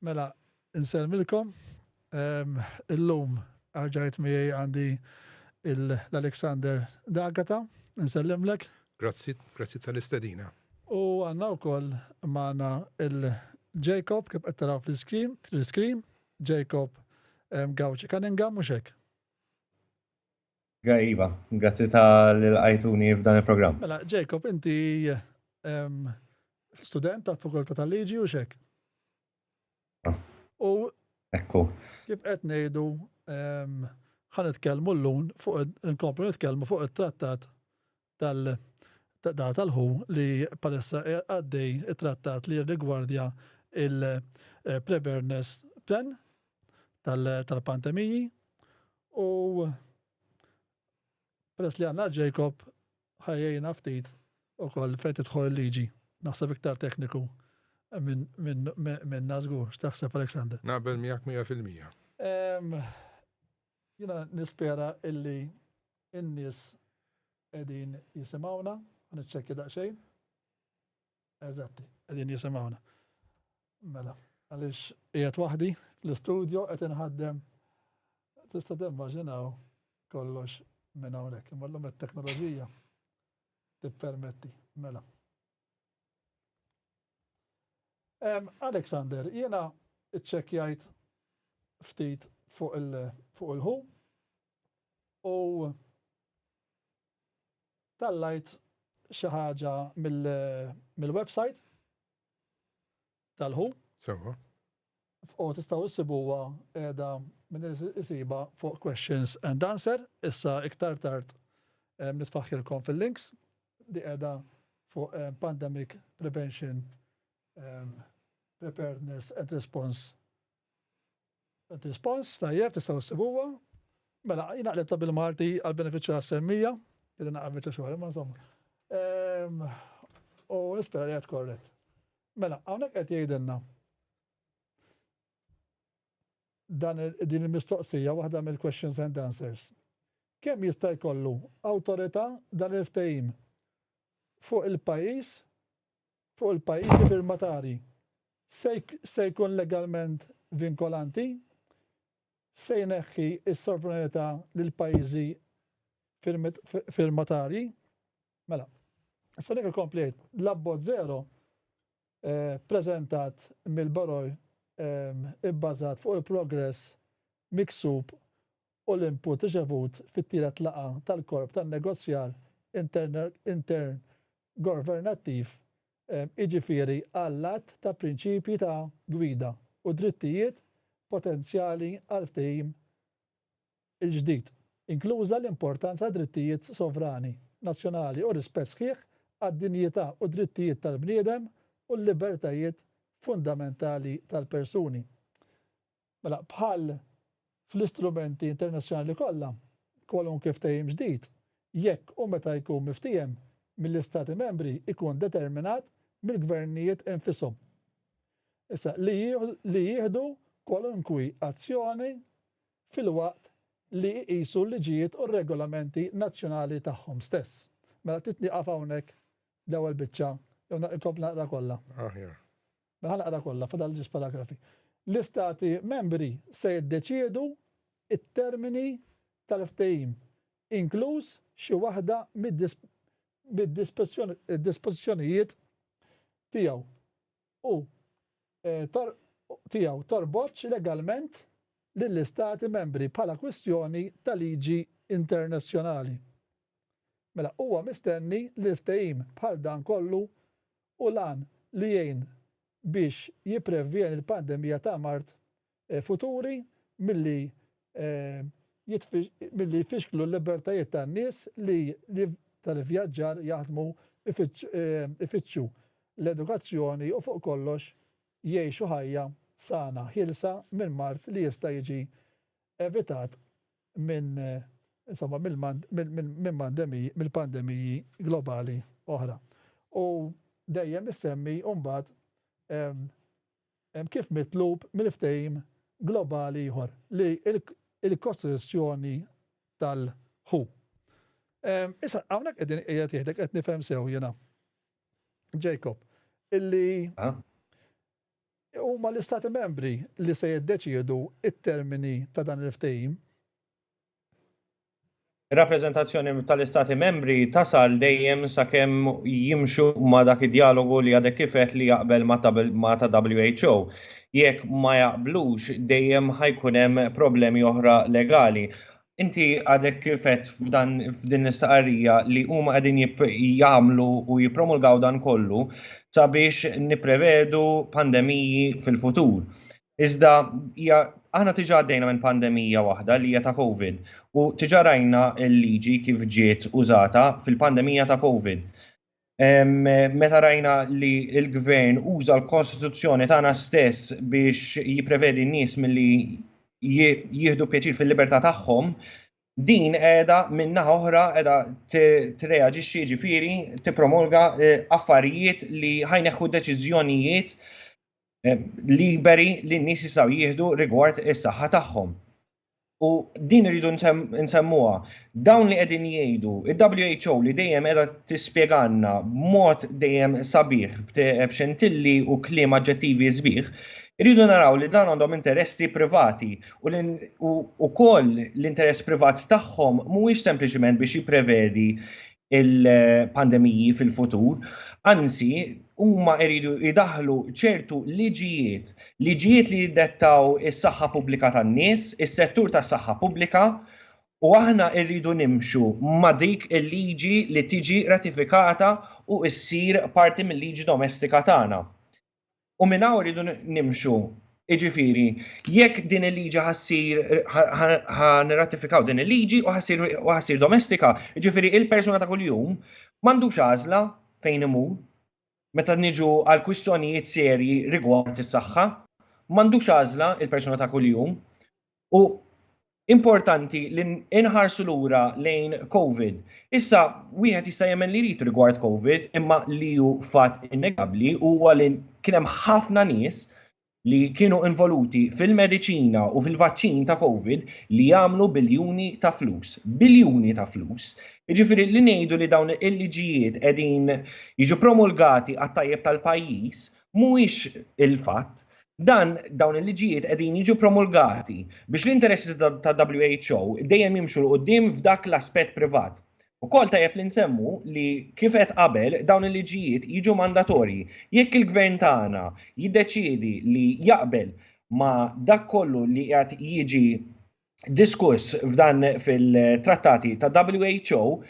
Mela, nselmilkom. Illum għarġajt miegħi għandi l-Alexander Dagata, nsellimlek. Grazzi, grazzi tal-istedina. U għanna u koll maħna il-Jacob, kif għattara fl-screen, fl-screen, Jacob Gauci Cunningham, muxek. Għaj, Iva, grazzi ta' l-għajtuni f'dan il-program. Mela, Jacob, inti student tal-Fakulta tal-Liġi u xek? Ah. U. Ekku. Kif qed ngħidu ħan nitkellmu l-lun fuq nkomplu nitkellmu fuq it-trattat tal-data tal-ħu li bħalissa qiegħed għaddej it-trattat li jirrigwardja il-preparedness plan tal-pandemiji u peress li għandna Jacob ħa jgħinna ftit ukoll fejn tidħol il-liġi. Naħseb iktar tekniku minna żgur. X'taħseb Alexander? Naqbel miegħek 100%. Jiena nispera illi In-nies qegħdin jisimgħuna? Ħa niċċekkja daqsxejn. Eżatti, qegħdin jisimgħuna. Mela, għaliex qiegħed waħdi fl-istudjo qed inħaddem. Tista' timmaġinaw kollox minn hawnhekk. Imma llum it-teknoloġija tippermetti. Mela. Em, Alexander, jiena ċċekkjajt ftit fuq il-ħu, U tallajt xi ħaġa mill-website tal-ħu. Sewa. U tistgħu issibuha qiegħda minn isiba fuq questions and answer, issa iktar tard nitfaħħilkom fil-links li qiegħda fuq pandemic prevention, preparedness and response Rispons, Tajjeb, tistgħu ssibuha. Mela, jiena qlibtha bil-Malti għall-benefiċċju tas-semmija, qegħdin naqra biċċa xogħol, imma insomma. Ehm, u nispera li qed korrett. Mela, hawnhekk qed jgħidilna dan din il-mistoqsija waħda mill-questions and answers. Kemm jista' jkollu awtorità dan il-ftehim fuq il-pajjiż fuq il-pajjiżi firmatarji se jkun legalment vinkolanti, se jneħħi s-sovranità lill-pajjiżi firmatarji. Mela, issa dik ikompli jgħid, l-abbozz żero ppreżentat mill-Baroj ibbażat fuq il-progress miksub u l-input riċevut fit-tielet laqgħa tal-korp tan-negozjar intergovernattiv, jiġifieri għall-għadd ta' prinċipji ta' gwida u drittijiet potenzjali għall-ftehim il-ġdid, inkluża l-importanza tad-drittijiet sovrani nazzjonali u r-rispett sħiħ għad-dinjità u d-drittijiet tal-bniedem u l-libertajiet fundamentali tal-persuni. Mela, bħal fl-istrumenti internazzjonali kollha, kwalunkwe ftehim ġdid, jekk u meta jkun miftiehem mill-Istati Membri, ikun determinat mill-gvernijiet infishom. Issa, li jieħdu kwalunkwi azzjoni filwaqt li jqisu l-liġijiet u r-regolamenti nazzjonali tagħhom stess. Mela, trid nieqaf hawnhekk l-ewwel biċċa jew inkompli naqra kollha? Aħjar. Mela ħa naqra kollha, fadal ġiex paragrafi. L-Istati Membri se jiddeċiedu t-termini tal-ftehim, inkluż xi waħda mid-dispożizzjonijiet tiegħu, u tiegħu torbotx legalment lill-Istati Membri bħala kwistjoni ta' liġi internazzjonali. Mela huwa mistenni li ftehim bħal dan kollu u l-għan li jgħin biex jipprevjeni l-pandemija ta' mard futuri milli milli jfixklu l-libertajiet tan-nies li tal-ivvjaġġar, jaħdmu, ifittxu l-edukazzjoni u fuq kollox jgħixu ħajja sana ħielsa minn mard li jista' jiġi evitat minn insomma mill-pandemiji globali oħra. U dejjem issemmi mbagħad kif mitlub mill-ftehim globali ieħor li l-kostituzzjoni tal-WHO. Issa hawnhekk qegħdin qiegħed jgħidlek qed nifhem sew jiena. Jacob, illi Huma l-Istati Membri li se jiddeċiedu t-termini ta' dan il-Ftehim. Ir-rappreżentazzjoni tal-Istati Membri tasal dejjem sakemm jimxu ma' dak id-djalogu li għadek kif għedt li jaqbel ma' ta' WHO. Jekk ma jaqblux, dejjem ħa jkun hemm problemi oħra legali. Inti għadek kifet f'dan f'din l-istaqarrija li huma qegħdin jagħmlu u jippromulgaw dan kollu sabiex nipprevedu pandemiji fil-futur. Iżda hija aħna tiġa għaddejna minn pandemija waħda li hija ta' COVID u tiġa rajna l-liġi kif ġiet użata fil-pandemija ta' COVID. meta rajna li l-gvern uża l-Kostituzzjoni tagħna stess biex jipprevedi n-nies milli jieħdu pjaċir fil-libertà tagħhom, din qiegħda minna oħra qiegħda treaġixxi ġifieri tippromolga eh, affarijiet li ħajneħħu deċiżjonijiet liberi li n-nies jistgħu jieħdu rigward is-saħħa tagħhom. U din rridu nsemmuha. Dawn li qegħdin jgħidu, il-WHO li dejjem qiegħda tispjegalna b'mod dejjem sabiħ b'xentilli u kliem aġġettivi sbieħ, rridu naraw li dan għandhom interessi privati u wkoll l-interess privat tagħhom mhuwiex sempliċiment biex jipprevedi il-pandemiji fil-futur, anzi huma jridu jdaħlu ċertu liġijiet, liġijiet li jiddettaw is-saħħa pubblika tan-nies, is-settur tas-saħħa pubblika, u aħna rridu nimxu ma' dik il-liġi li tiġi ratifikata u ssir parti mill-liġi domestika tagħna. U minn hawn rridu nimxu. Iġifiri, jekk din il-liġi ħassir, ħanratifikaw din il-liġi u ħassir domestika, iġifiri il-persuna ta' kuljum mandu xazla fejn imur, meta niġu għal kwistjonijiet serji rigward is-saħħa, mandu xazla il-persuna ta' kuljum, U importanti li nħarsu lura lejn Covid. Issa, wieħed jista' jemmen li jrid rigward Covid, imma li hu fatt innegabbli huwa li kien hemm ħafna nies li kienu involuti fil-mediċina u fil-vaċċin ta' Covid li jagħmlu biljuni ta' flus. Biljuni ta' flus. Jiġifieri li ngħidu li dawn il-liġijiet qegħdin jiġu promulgati għat-tajjeb tal-pajjiż mhuwiex il-fatt, dan dawn il-liġijiet qegħdin jiġu promulgati biex l-interessi ta' WHO dejjem jimxu l qudiem f'dak l-aspett privat. Ukoll tajjeb li nsemmu li kif qed qabel dawn il-liġijiet jiġu mandatorji. Jekk il-Gvern tagħna jiddeċiedi li jaqbel ma' dak kollu li qiegħed jiġi diskuss f'dan fil-trattati ta' WHO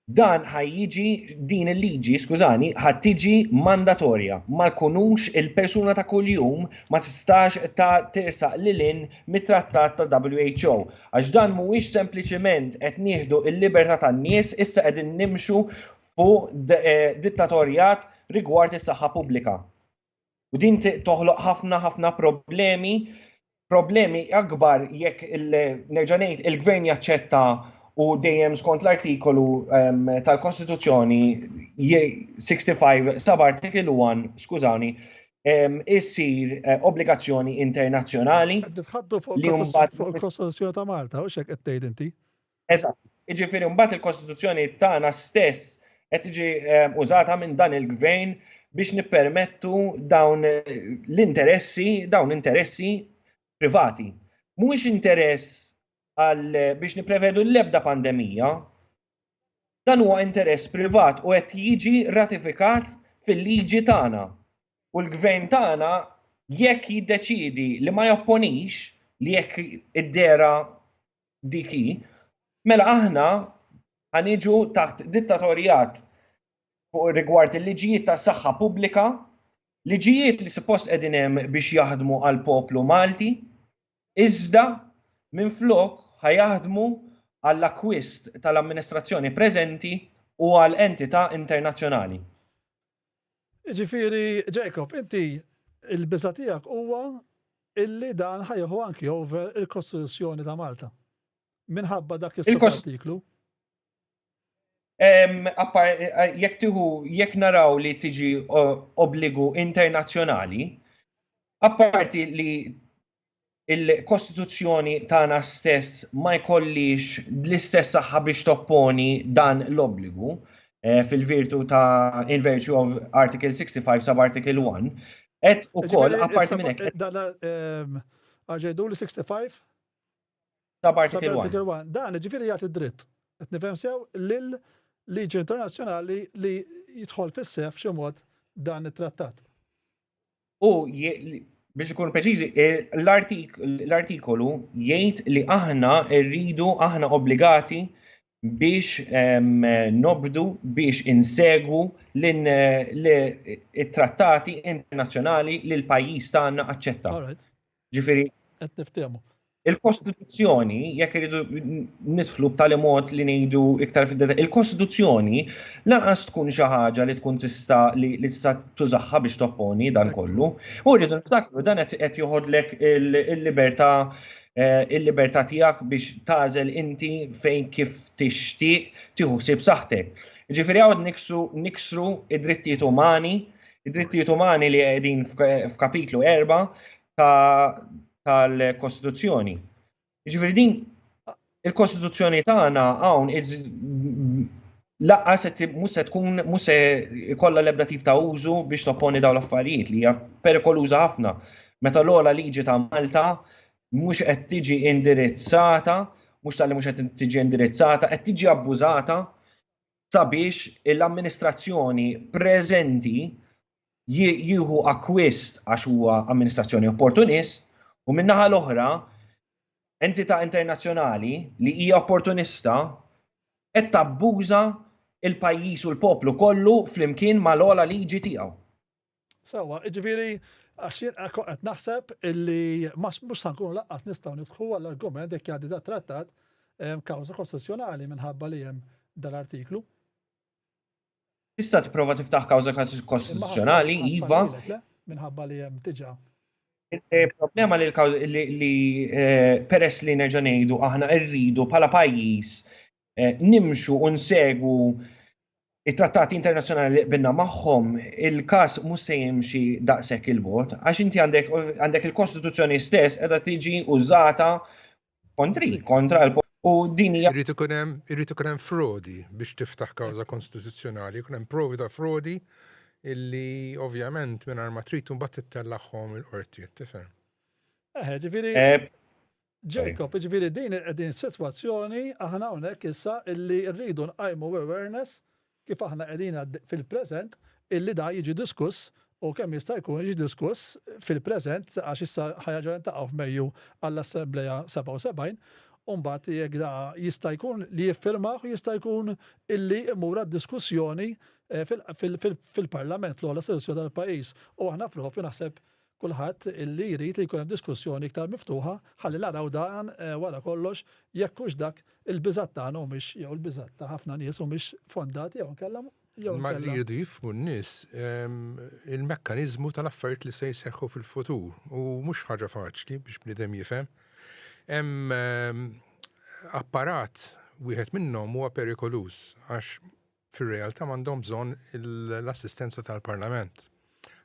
dan ħajjiġi din il-liġi, skużani, ħattiġi mandatorja. Ma kunux il-persuna ta' kuljum ma tistax ta' tirsaq lilin mit-trattat ta' WHO. Għax dan mhuwiex sempliċiment qed nieħdu il-libertà tan-nies issa qegħdin nimxu fuq eh, dittatorjat rigward is-saħħa pubblika. U din toħloq ħafna ħafna problemi, problemi akbar jekk il-nerġanejt il-gvern jaċċetta u dejjem skont l-artikolu ehm, tal-Kostituzzjoni 65 sab artikolu 1, skużawni, ehm, issir eh, obbligazzjoni internazzjonali. Tħaddu fuq il-Kostituzzjoni ta' Malta, u xek qed tgħid inti? Eżatt. Jiġifieri mbagħad il-Kostituzzjoni tagħna stess qed tiġi ehm, użata minn dan il-gvern biex nippermettu dawn l-interessi, dawn interessi privati. Mhuwiex interess għal biex niprevedu l-ebda pandemija, dan huwa interess privat u qed jiġi ratifikat fil-liġi tagħna. U l-gvern tagħna jekk jiddeċidi li ma japponix li jekk id-dera Dik hi. Mela aħna ħa niġu taħt dittatorjat fuq rigward il-liġijiet tas-saħħa pubblika, liġijiet li suppost qegħdin hemm biex jaħdmu għall-poplu Malti, iżda minflok ħa jaħdmu għall-akkwist tal-amministrazzjoni preżenti u għal entità internazzjonali. Jiġifieri, Jacob, inti, il-biża' tiegħek huwa illi dan ħa jieħu anki over il-Kostituzzjoni ta' Malta. Minħabba dak is-subartiklu. Jekk tieħu jekk naraw li tiġi obbligu internazzjonali, apparti li il-Kostituzzjoni tagħna stess ma jkollix l-istess saħħa biex topponi dan l-obbligu eh, fil-virtu ta' in virtue of Article 65 sub Article 1, et u koll apparti minn hekk. Ehm, Arġejdu li 65? Sub Article 1. Dan ġifieri jagħti dritt. Qed nifhem sew lil liġi internazzjonali li jidħol fis-sef xi mod dan it-trattat. U biex ikunu preċiżi, eh, l-artikolu jgħid li aħna rridu aħna obbligati biex ehm, nobdu biex insegwu l-trattati internazzjonali li l-pajjiż tagħna aċċetta. Ġifieri. Qed niftehmu. Il-Kostituzzjoni, jekk iridu nidħlu b'tali mod li ngħidu iktar fid il-Kostituzzjoni lanqas tkun xi ħaġa li tkun tista' li tista' tużaħħa biex topponi dan kollu. U rridu niftakru dan qed joħodlek il-libertà eh, il-libertà tiegħek biex tażel inti fejn kif tixtieq tieħu ħsieb saħħtek. Ġifieri hawn niksru id-drittijiet umani Id-drittijiet umani li qegħdin f'kapitlu erba' tal-Kostituzzjoni. Ġifieri din il-Kostituzzjoni tagħna hawn laqqas qed mhux se tkun mhux se jkollha l-ebda tip ta' użu biex topponi dawn l-affarijiet li hija perikoluża ħafna. Meta l-ogħla liġi ta' Malta mhux qed tiġi indirizzata, mhux tal-li mhux qed tiġi indirizzata, qed tiġi abbużata sabiex l-amministrazzjoni preżenti jieħu akwist għax huwa amministrazzjoni opportunist u min-naħa l-oħra entità internazzjonali li hija opportunista qed tabbuża il-pajjiż u l-poplu kollu flimkien mal-ogħla liġi tiegħu. Sewwa, jiġifieri għax jien kont qed naħseb illi ma mhux sa nkunu laqqas nistgħu niftħu għall-argument jekk jgħaddi dat-trattat ehm, kawża kostituzzjonali minħabba li hemm dal-artiklu. Tista' tipprova tiftaħ kawża kostituzzjonali, iva. Minħabba li hemm diġà. Il-problema li li eh, peress li nerġa' ngħidu aħna rridu bħala pajjiż eh, nimxu u nsegwu it-trattati internazzjonali li qbilna magħhom, il-każ mhux se jimxi daqshekk il-bot, għax inti għandek il-Kostituzzjoni stess qiegħda tiġi użata kontri, kontra l U din hija. Irrid ikun hemm irrid ikun hemm frodi biex tiftaħ kawża konstituzzjonali, ikun hemm provi ta' frodi illi ovvjament mingħajr ma trid imbagħad tittellagħhom il-qorti, tifhem. Eh, ġifieri. Eh, Jacob, ġviri din qegħdin f'sitwazzjoni aħna hawnhekk issa illi rridu nqajmu awareness kif aħna qegħdin fil-preżent illi dan jiġi diskuss u kemm jista' jkun jiġi diskuss fil-preżent għax issa ħanerġgħu niltaqgħu f'Mejju għall-Assemblea 77 u mbagħad jekk da jista' jkun li jiffirmah jista' jkun illi imur għad-diskussjoni fil-Parlament fl-ogħla istituzzjoni tal-pajjiż u aħna propju naħseb kulħadd li jrid li jkun hemm diskussjoni iktar miftuħa ħalli naraw dan wara kollox jekk hux dak il-biżgħat tagħna humiex jew il-biżgħat ta' ħafna nies humiex fondati jew inkella Ma li jridu jifmu n-nies il-mekkaniżmu tal-affarijiet li se jseħħu fil-futur u mhux ħaġa faċli biex bniedem jifhem. Hemm apparat wieħed minnhom huwa perikoluż għax fir-realtà m'għandhom bżonn l-assistenza tal-Parlament.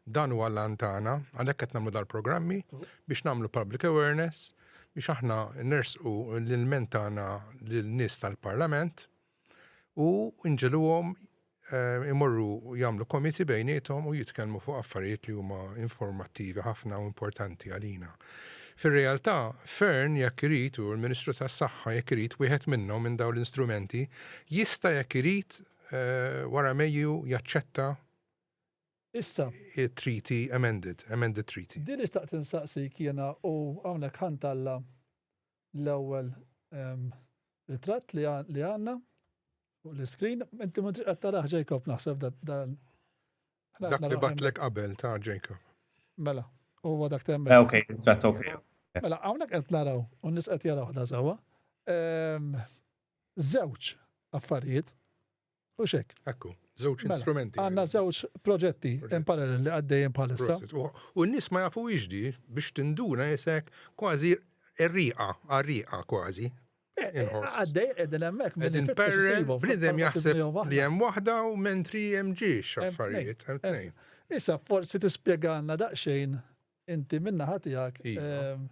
Dan huwa l-għan tagħna, għalhekk qed nagħmlu dal-programmi biex nagħmlu public awareness, biex aħna nersqu l-ilment tagħna lin-nies tal-Parlament u nġiluhom eh, imorru jagħmlu komiti bejnietom u jitkellmu fuq affarijiet li huma informattivi ħafna u importanti għalina. Fir-realtà, Fearne jekk irid u l-Ministru tas-Saħħa jekk irid wieħed minnhom minn dawn l-instrumenti jista' jekk irid wara Mejju jaċċetta Issa. it-Treaty amended, amended Treaty. Din li xtaqt insaqsik jiena u hawnhekk ħa ntalla' l-ewwel ritratt li għandna fuq l-iscreen. Inti ma tridx qed taraħ Jacob naħseb dan Dak li batlek qabel ta' Jacob. Mela, huwa dak temmek. Eh, ok, ġat ok. Mela, hawnhekk qed naraw, u nis qed jaraw ħda sewwa. Żewġ ehm, affarijiet u xek. Ekku, żewġ mela, instrumenti. Għandna żewġ proġetti in parallel li għaddejjin bħalissa. U n-nies ma jafu iġdi biex tinduna jisek kważi rriqa, għarriqa kważi. Eh, eh, għaddej, edin emmek. Edin perre, bnidem jaħseb li jem wahda u mentri jem ġiex affarijiet. Issa, forsi tispiega għanna daqxejn inti minna ħatijak. Iva. Ehm,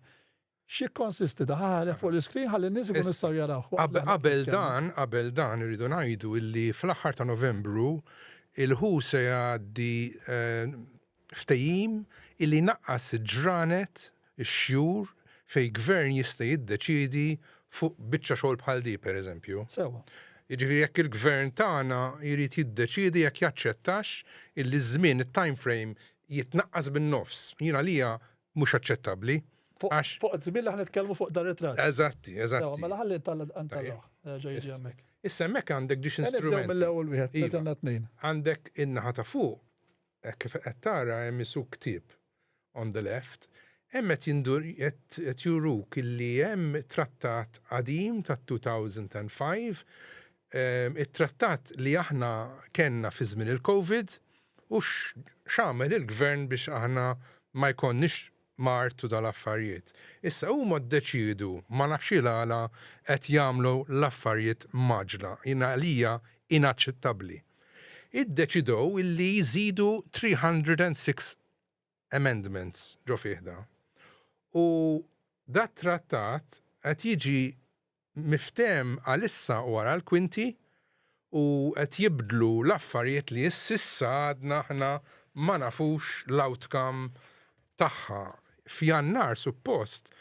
xie konsisti daħħalek fuq l-iskrin ħalli n-nis ikun nistaw jaraw. Qabel dan, qabel dan irridu najdu illi fl-axħar ta' novembru il-ħu se għaddi eh, Ftehim li jnaqqas il-ġranet, ix-xhur, fejn gvern jista' jiddeċiedi fuq biċċa xogħol bħal di, per eżempju. Sewwa. Jiġifieri jekk il-gvern tagħna jrid jiddeċiedi jekk jaċċettax illi ż-żmien, it-time frame, jitnaqqas bin-nofs, jien għalija mhux aċċettabbli. Għax. Fuq iż-żmien li aħna nitkellmu fuq dan ritratt. Eżatti, eżatti. Sewwa, mela ħalli ntellgħuh. Jerġa' jiġi hemmhekk. Issa hemmhekk għandek ġiex instrumenti. Nibdew mill-ewwel wieħed, meta għandna tnejn. Għandek in-naħa ta' fuq, Hekk kif qed tara hemm issu ktieb on the left, hemm qed jindur qed juruk illi hemm trattat qadim ta' 2005, it-trattat li aħna kellna fi żmien il-Covid u x'għamel il-Gvern biex aħna ma jkollniex ma artu dal-affarijiet. Issa huma ddeċiedu, ma nafx ilgħala qed jagħmlu l-affarijiet mgħaġġla, jien għalija inaċċettabbli. Iddeċidow illi jżidu 306 amendments ġo fih da. U dat-trattat qed jiġi miftehem għalissa wara l-kwinti u qed jibdlu l-affarijiet li s'issa għadna aħna ma nafux l-outcome tagħha. F'Jannar suppost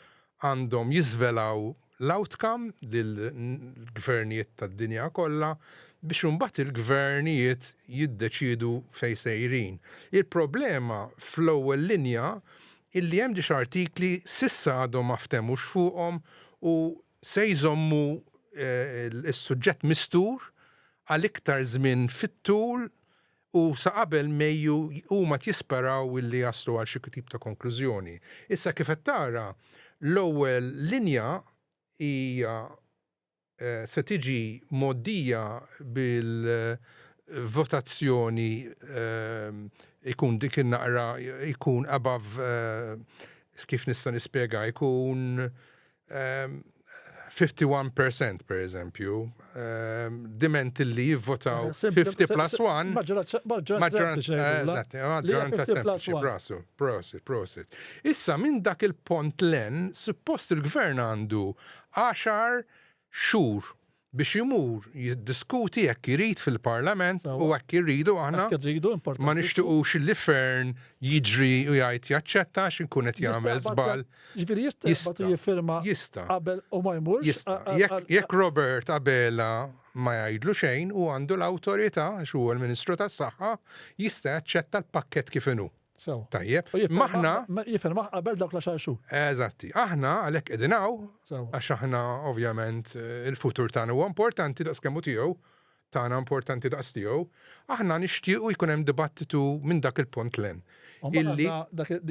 għandhom jiżvelaw l-outcome lill-gvernijiet tad-dinja kollha biex imbagħad il-gvernijiet jiddeċiedu fejn sejrin. Il-problema fl-ewwel linja illi hemm disa' artikli s'issa għadhom ma ftemux fuqhom u se jżommu s-suġġett mistur għal iktar żmien fit-tul u sa qabel Mejju huma tjisperaw illi jaslu għal xi tip ta' konklużjoni. Issa kif qed tara, l-ewwel linja hija se tiġi mgħoddija bil-votazzjoni jkun dik in-naqra jkun above kif nista' nispjega jkun 51 percent pereżempju diment li jivvotaw 50 plus 1 Prosit. Issa minn dak il-punt 'l hemm suppost il-Gvern għandu għaxar xhur biex imur jiddiskuti hekk irid fil-Parlament u hekk irridu aħna ma nixtiqux li fern jiġri u jgħid jaċċetta għax inkun qed jagħmel żball. Ġifieri jista' jista' jiffirma jista' qabel u ma jmurx. Jista' jekk Robert Abela ma jgħidlu xejn u għandu l-awtorità għax huwa l-Ministru tas-Saħħa jista' jaċċetta l-pakkett kif inhu. Sew. Tajjeb. Maħna. Jifel maħ qabel dawk la xarxu. Eżatti. Aħna għalek edinaw. Sew. Għax aħna ovvjament eh, il-futur tagħna huwa importanti daqs kemm tiegħu tagħna importanti daqs tiegħu, aħna nixtiequ jkun hemm dibattitu minn dak il-punt len. Illi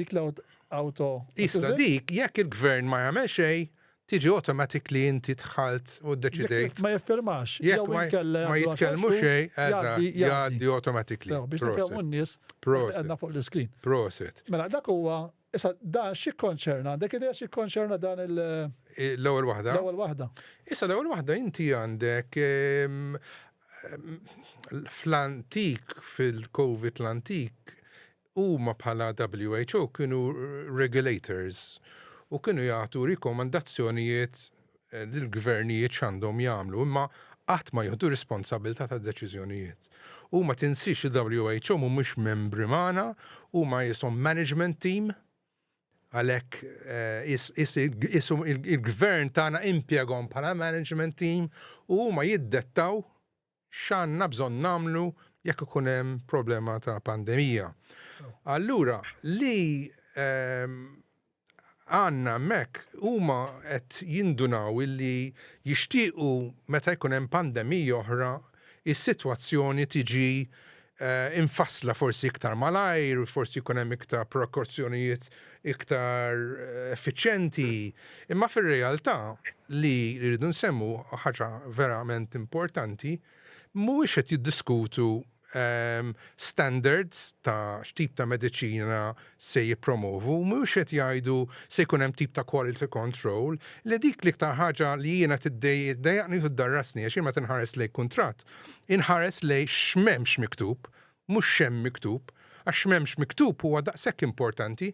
dik l-auto. Issa dik jekk il-gvern ma jagħmel xejn, tiġi automatic li inti dħalt u ddeċidejt. Ma jiffirmax jew inkella jgħaddi għaxar xhur. Ma jitkellmu xejn, eżatt, jgħaddi automatically. Sew, biex nifhmu n-nies qegħdna fuq l-iskrin. Proset. Mela dak huwa, issa dan x'jikkonċerna? Għandek idea x'jikkonċerna dan il- L-ewwel waħda? L-ewwel waħda. Issa l-ewwel waħda inti għandek fl-antik, fil-COVID l-antik, Huma bħala WHO kienu regulators u kienu jagħtu rikomandazzjonijiet lill-gvernijiet x'għandhom jagħmlu imma qatt ma jieħdu r-responsabbiltà tad-deċiżjonijiet. U ma tinsiex li WHO mhumiex membri magħna, huma qishom management team għalhekk qishom il-gvern tagħna impjegahom bħala management team u huma jiddettaw x'għandna bżonn nagħmlu jekk ikun hemm problema ta' pandemija. Allura li għandna hemmhekk huma qed jindunaw illi jixtiequ meta jkun hemm pandemija oħra is-sitwazzjoni tiġi imfassla forsi iktar malajr, forsi jkun hemm iktar prekozzjonijiet iktar effiċjenti, imma fir-realtà li rridu nsemmu ħaġa verament importanti, mhuwiex qed jiddiskutu standards ta' x'tip ta' mediċina se jippromovu mhux qed jgħidu se jkun hemm tip ta' quality control li dik l-iktar ħaġa li jiena tiddejjaqni u tiddarrasni għax jien meta nħares lejn kuntratt inħares lejn x'm'hemmx miktub mhux x'hemm miktub għax x'm'hemmx miktub huwa daqshekk importanti.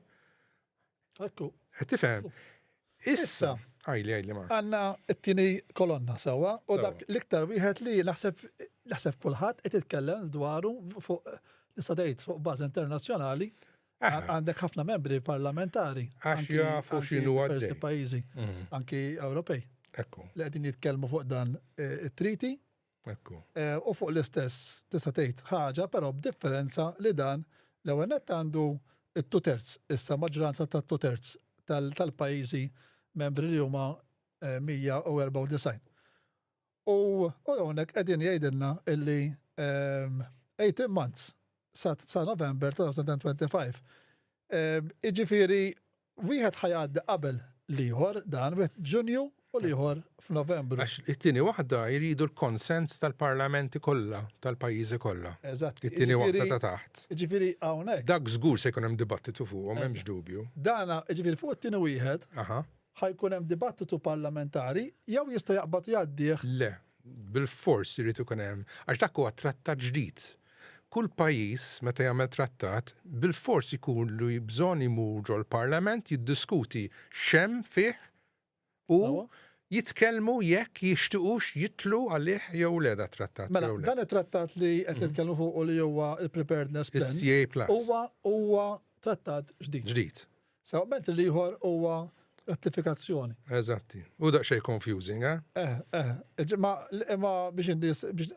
Qed tifhem? Issa, għajli, għajli ma. Għanna t-tini kolonna sewa u dak l-iktar wieħed li naħseb kulħadd qed jitkellem dwaru fuq nista' tgħid fuq bażi internazzjonali għandek ħafna membri parlamentari. Għax jafu x'inhu għaddej. pajjiżi, mm. anki Ewropej. Ekku. Li qegħdin jitkellmu fuq dan eh, it-triti Hekk hu. U fuq l-istess, tista' tgħid, ħaġa, però b'differenza li dan, l-ewwel nett għandu t-two thirds, issa maġġoranza tat-two thirds tal-pajjiżi membri li huma 194. U hawnhekk qegħdin jgħidilna li 18 months sa November 2025. Jiġifieri Wieħed ħa jgħaddi qabel l-ieħor dan, wieħed f'Ġunju u l-ieħor f'Novembru. Għax it-tieni waħda jridu l-konsens tal-parlamenti kollha tal-pajjiżi kollha. Eżatt. It-tieni waħda ta' taħt. Jiġifieri hawn hekk. Dak żgur se jkun hemm dibattitu fuqhom, m'hemmx dubju. Dan, jiġifieri fuq it-tieni wieħed, ħa jkun hemm dibattitu parlamentari jew jista' jaqbad u jgħaddih? Le, bilfors irid ikun hemm, għax dak huwa trattat ġdid. Kull pajjiż meta jagħmel trattat bilfors jkollu bżonn imur ġol-Parlament jiddiskuti x'hemm fih u jitkellmu jekk jixtiqux jidħlu għalih jew le dat-trattat jew le. Mela, dan it-trattat li qed nitkellmu fuqu li huwa l-Preparedness Plan huwa trattat ġdid. Ġdid. Sewa, ment l-ieħor huwa ratifikazzjoni. Eżatti. U daqsxejn confusing, eh? Eh, eh. Ġimma, imma biex in-nies biex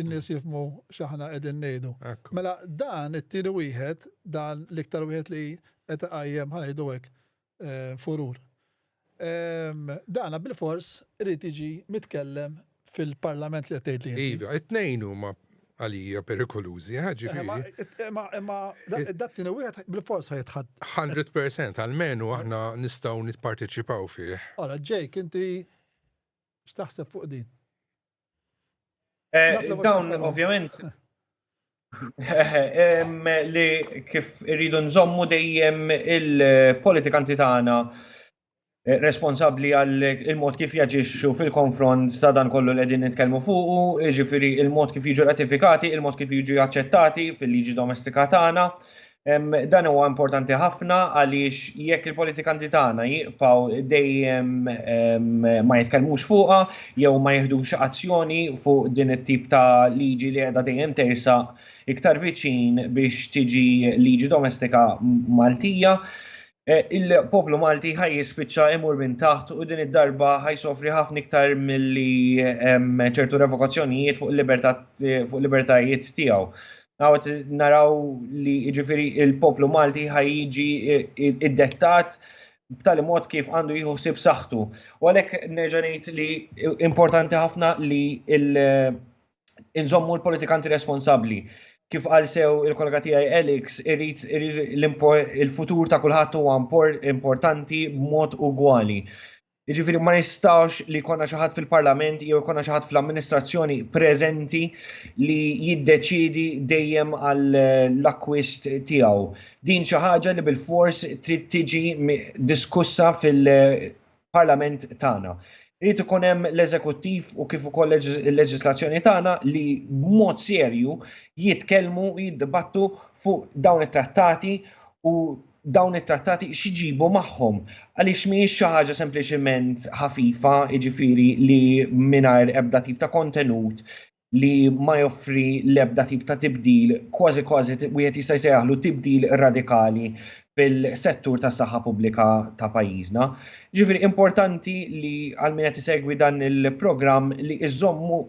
in-nies jifmu x'aħna qegħdin ngħidu. Ekku. Mela dan it-tieni wieħed, dan l-iktar wieħed li qed iqajjem ħanejdu hekk eh, furur. Dan bilfors irid jiġi mitkellem fil-Parlament li qed tgħidli inti. Iva, it-tnejn huma għalija perikolużi, eh, ġifieri. Imma imma dat tieni wieħed bilfors ħajtħadd. 100% għalmenu aħna nistgħu nipparteċipaw fih. Ora, Jake, inti x'taħseb fuq din? Eh, dawn, ovvjament, li kif irridu nżommu dejjem il-politikanti tagħna eh, responsabli għal il-mod kif jaġixxu fil-konfront ta' dan kollu li qegħdin nitkellmu fuqu, jiġifieri il-mod kif jiġu ratifikati, il-mod kif jiġu aċċettati fil-liġi domestika tagħna, Dan huwa importanti ħafna għaliex jekk il-politikanti tagħna jiqpaw dejjem ma jitkellmux fuqha jew ma jihdux azzjoni fuq din it-tip ta' liġi li qiegħda dejjem tersa iktar viċin biex tiġi liġi domestika Maltija. E, il-poplu Malti ħaj jispiċċa imur minn taħt u din id-darba ħaj sofri ħafna iktar milli ċertu revokazzjonijiet fuq il-libertajiet tiegħu. Għawet naraw li ġifiri il-poplu Malti ħajġi id-dettat b'tali mod kif għandu jieħu sib saħħtu. U għalhekk nerġa' ngħid li importanti ħafna li inżommu l-politikanti responsabbli. Kif għal sew il-kollega tiegħi Alex, irrit il-futur ta' kulħadd huwa importanti b'mod ugwali. Jiġifieri ma jistgħux li jkollna xi ħadd fil-Parlament jew jkollna xi ħadd fl-amministrazzjoni preżenti li jiddeċiedi dejjem għal l-akkwist tiegħu. Din xi ħaġa li bil-fors trid tiġi diskussa fil-Parlament tagħna. Irid ikun hemm l-eżekuttiv u kif ukoll il-leġislazzjoni tagħna li b'mod serju jitkellmu, jiddibattu fuq dawn it-trattati u dawn it-trattati x'ġibu magħhom għaliex mhijiex xi ħaġa sempliċiment ħafifa, jiġifieri li mingħajr ebda tip ta' kontenut li ma joffri l-ebda tip ta' tibdil, kważi kważi wieħed jista' jsejjaħlu tibdil radikali fil-settur tas saħħa pubblika ta' pajjiżna. Ġifieri importanti li għal min qed isegwi dan il-programm li iżommu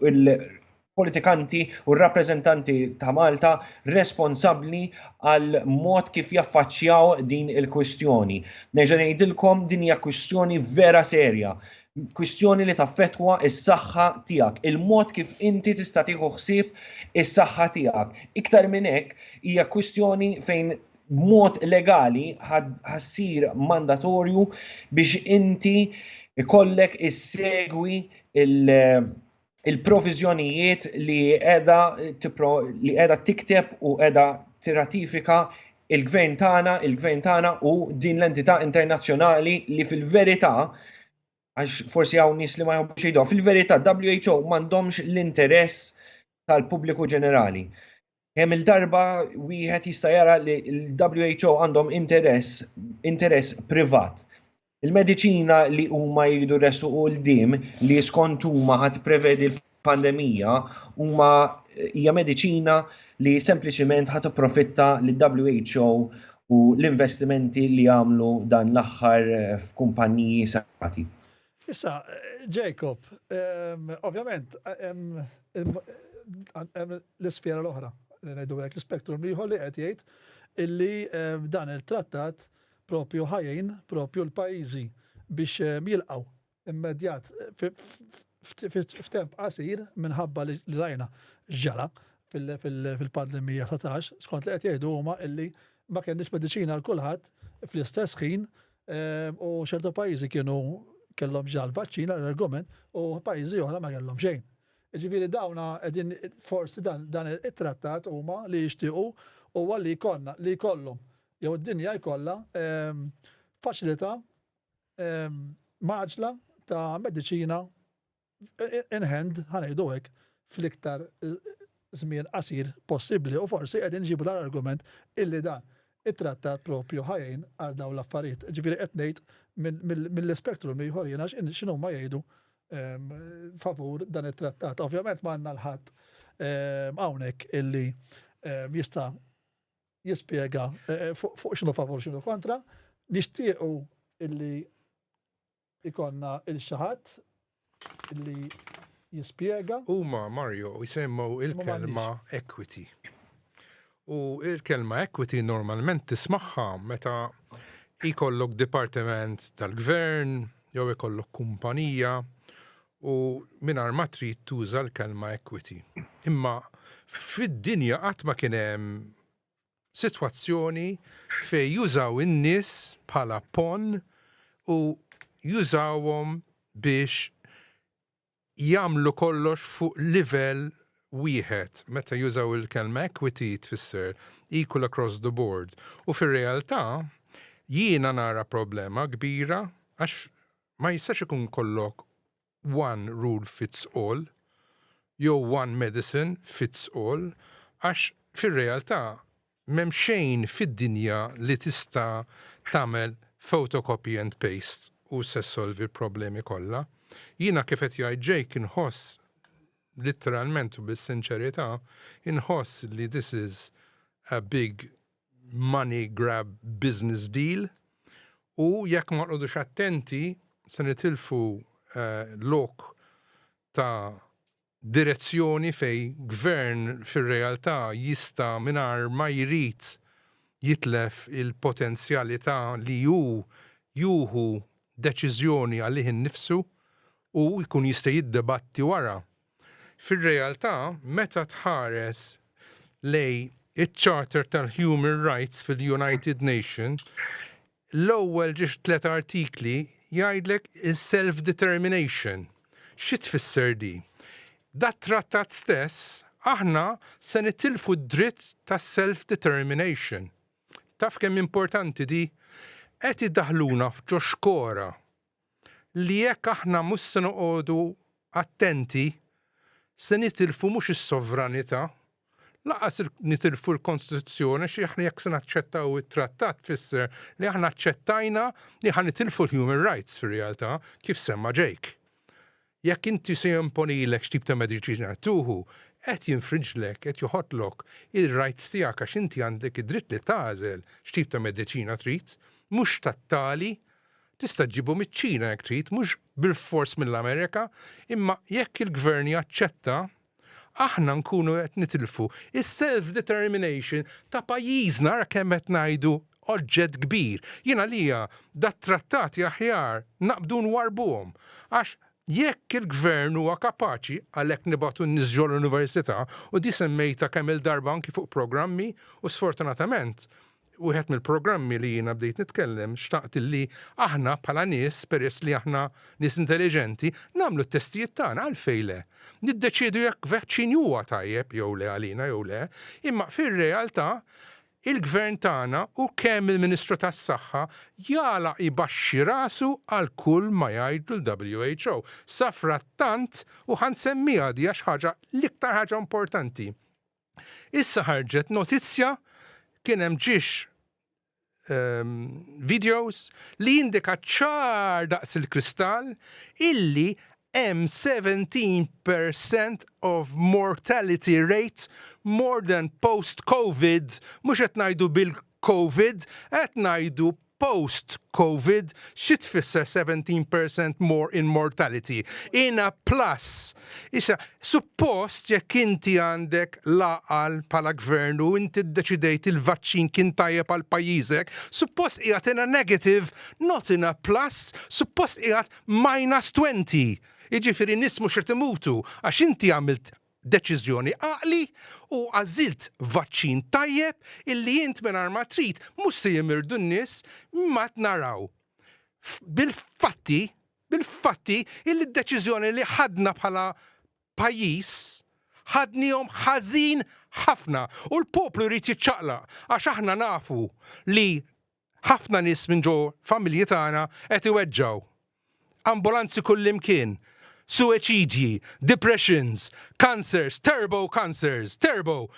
politikanti u r-rappreżentanti ta' Malta responsabbli għal mod kif jaffaċċjaw din il-kwistjoni. Nerġa' ngħidilkom din hija kwistjoni vera serja, kwistjoni li taffetwa is-saħħa tiegħek, il-mod kif inti tista' tieħu ħsieb is-saħħa tiegħek. Iktar minn hekk hija kwistjoni fejn b'mod legali ħassir mandatorju biex inti ikollek issegwi il- il-proviżjonijiet li qiegħda li qiegħda tikteb u qiegħda tirratifika il-gvern tagħna, il-gvern tagħna u din l-entità internazzjonali li fil-verità għax forsi hawn nies li ma jħobbux jgħidu, fil-verità WHO m'għandhomx l-interess tal-pubbliku ġenerali. Kemm il-darba wieħed jista' jara li l-WHO għandhom interess, interess privat. Il-mediċina li huma jridu resu u l-dim li skont huma ħadd prevedi l-pandemija huma hija mediċina li sempliċiment ħadd profitta li who u l-investimenti li għamlu dan l-aħħar f'kumpaniji sati. Issa, Jacob, ovvjament, hemm l-isfera l-oħra, li ngħidu hekk l-spektrum ieħor li qed jgħid illi dan il-trattat propju ħajjin propju l-pajjiżi biex jilqgħu immedjat f'temp qasir minħabba li rajna ġara fil-pandemija 19, skont li qed jgħidu huma illi ma kenniex mediċina għal kulħadd fl-istess ħin U ċertu pajjiżi kienu kellhom ġal vaċċin għal argument u pajjiżi oħra ma kellhom xejn. Ġifieri dawna qegħdin forsi dan dan it-trattat huma li jixtiequ huwa li jkollna li jkollhom jew id-dinja jkollha faċilità maġla ta' mediċina in hand, ħa ngħidu hekk, fl-iktar żmien qasir possibbli u forsi qegħdin iġibu dan l-argument illi dan it-trattat propju ħa jgħin għal dawn l-affarijiet. Ġifieri qed ngħid mill-ispektrum ieħor jiena x'inhuma jgħidu ehm, favur dan it-trattat. Ovvjament ma għandna l-ħadd ehm, hawnhekk illi ehm, jista' jispjega eh, eh, fuq x'inhu favur x'inhu kontra, nixtiequ illi Ikollna 'l xi ħadd li jispjega. Huma, Mario, jsemmgħu l-kelma equity. U l-kelma equity normalment tismagħha meta jkollok dipartiment tal-gvern jew ikollok kumpanija u mingħajr ma trid tuża l-kelma equity. Imma fid-dinja qatt ma kien hemm sitwazzjoni fejn jużaw in-nies bħala ponn u jużawhom biex jagħmlu kollox fuq livell wieħed. Meta jużaw il-kelma equity tfisser equal across the board u fir-realtà jiena nara problema kbira għax ma jistax ikun kollok one rule fits all jew one medicine fits all għax fir-realtà m'hemm xejn fid-dinja li tista' tagħmel photocopy and paste u se ssolvi l-problemi kollha. Jiena kif qed jgħid Jake inħoss litteralment u bis-sinċerità inħoss li this is a big money grab business deal u jekk ma nqogħdux attenti se nitilfu lok ta' direzzjoni fejn gvern fir-realtà jista' mingħajr ma jrid jitlef il-potenzjalità li hu jieħu deċiżjoni għalih innifsu u jkun jista' jiddebatti wara Fir-realtà, meta tħares lejn iċ-Charter tal-Human Rights fil-United Nations, l-ewwel xi tliet artikli jgħidlek is-self-determination. Xi tfisser di? Dat-Trattat stess aħna se nitilfu d-dritt tas-self-determination. Taf kemm importanti di? Qed idaħħluna f'ġo xkora. li jekk aħna mhux se noqogħdu attenti, se nitilfu mhux is-sovranità, lanqas nitilfu l-Kostituzzjoni għax aħna jekk se naċċettaw it-Trattat tfisser li aħna aċċettajna li ħa nitilfu l-human rights fir-realtà, kif semma Jake. Jekk inti se jimponilek x'tip ta' mediċina qed tuħu, qed jinfrinġlek, qed joħodlok, ir-rights tiegħek għax inti għandek id-dritt li tagħżel x'tip ta' mediċina trid, mhux tat-tali, tista' ġġibu miċ-Ċina jekk trid, mhux bilfors mill-Amerika, imma jekk il-Gvern jaċċetta, aħna nkunu qed nitilfu s-self determination ta' pajjiżna ara kemm qed ngħidu oġġett kbir. Jien għalija dat-trattati aħjar naqbdu nwarrbuhom għax jekk il-gvern huwa kapaċi għalhekk nibgħatu n-nies ġo l-università u di semmejtha kemm-il darba anki fuq programmi u sfortunatament wieħed mill-programmi li jiena bdejt nitkellem xtaqt li aħna bħala nies peress li aħna nies intelliġenti nagħmlu t-testijiet tagħna għalfejn le. Niddeċiedu jekk vaċċin huwa tajjeb jew le għalina jew le, imma fir-realtà il-Gvern tagħna u kemm il-Ministru tas-Saħħa jagħlaq ibaxxi rasu għal kull ma jgħidlu l-WHO. Safrattant, u ħa nsemmiha di għax ħaġa l-iktar ħaġa importanti, Issa ħarġet notizja kien hemm ġiex ehm, videos li jindika ċar daqs il-kristall illi hemm 17% of mortality rate more than post-COVID, mhux qed ngħidu bil-COVID, qed ngħidu Post Covid xi tfisser 17% more in mortality? In a plus. Issa, suppost jekk inti għandek l-għaqal bħala gvern u inti ddeċidejt il-vaċċin kien tajjeb għal pajjiżek, suppost qiegħed in a negative, not in a plus, suppost qiegħed minus 20. Jiġifieri nies mhux qed imutu għax inti għamilt deċiżjoni għaqli u għażilt vaċċin tajjeb illi int mingħajr ma trid mhux se jimirdu n-nies imma qed naraw bil-fatti bil-fatti illi d-deċiżjoni li ħadna bħala pajjiż ħadnihom ħażin ħafna u l-poplu jrid jiċċaqlaq għax aħna nafu li Ħafna nies minn ġo familji tagħna qed iweġġgħu. Ambulanzi kullimkien. Suweċidji, depressions, cancers, turbo cancers, turbo!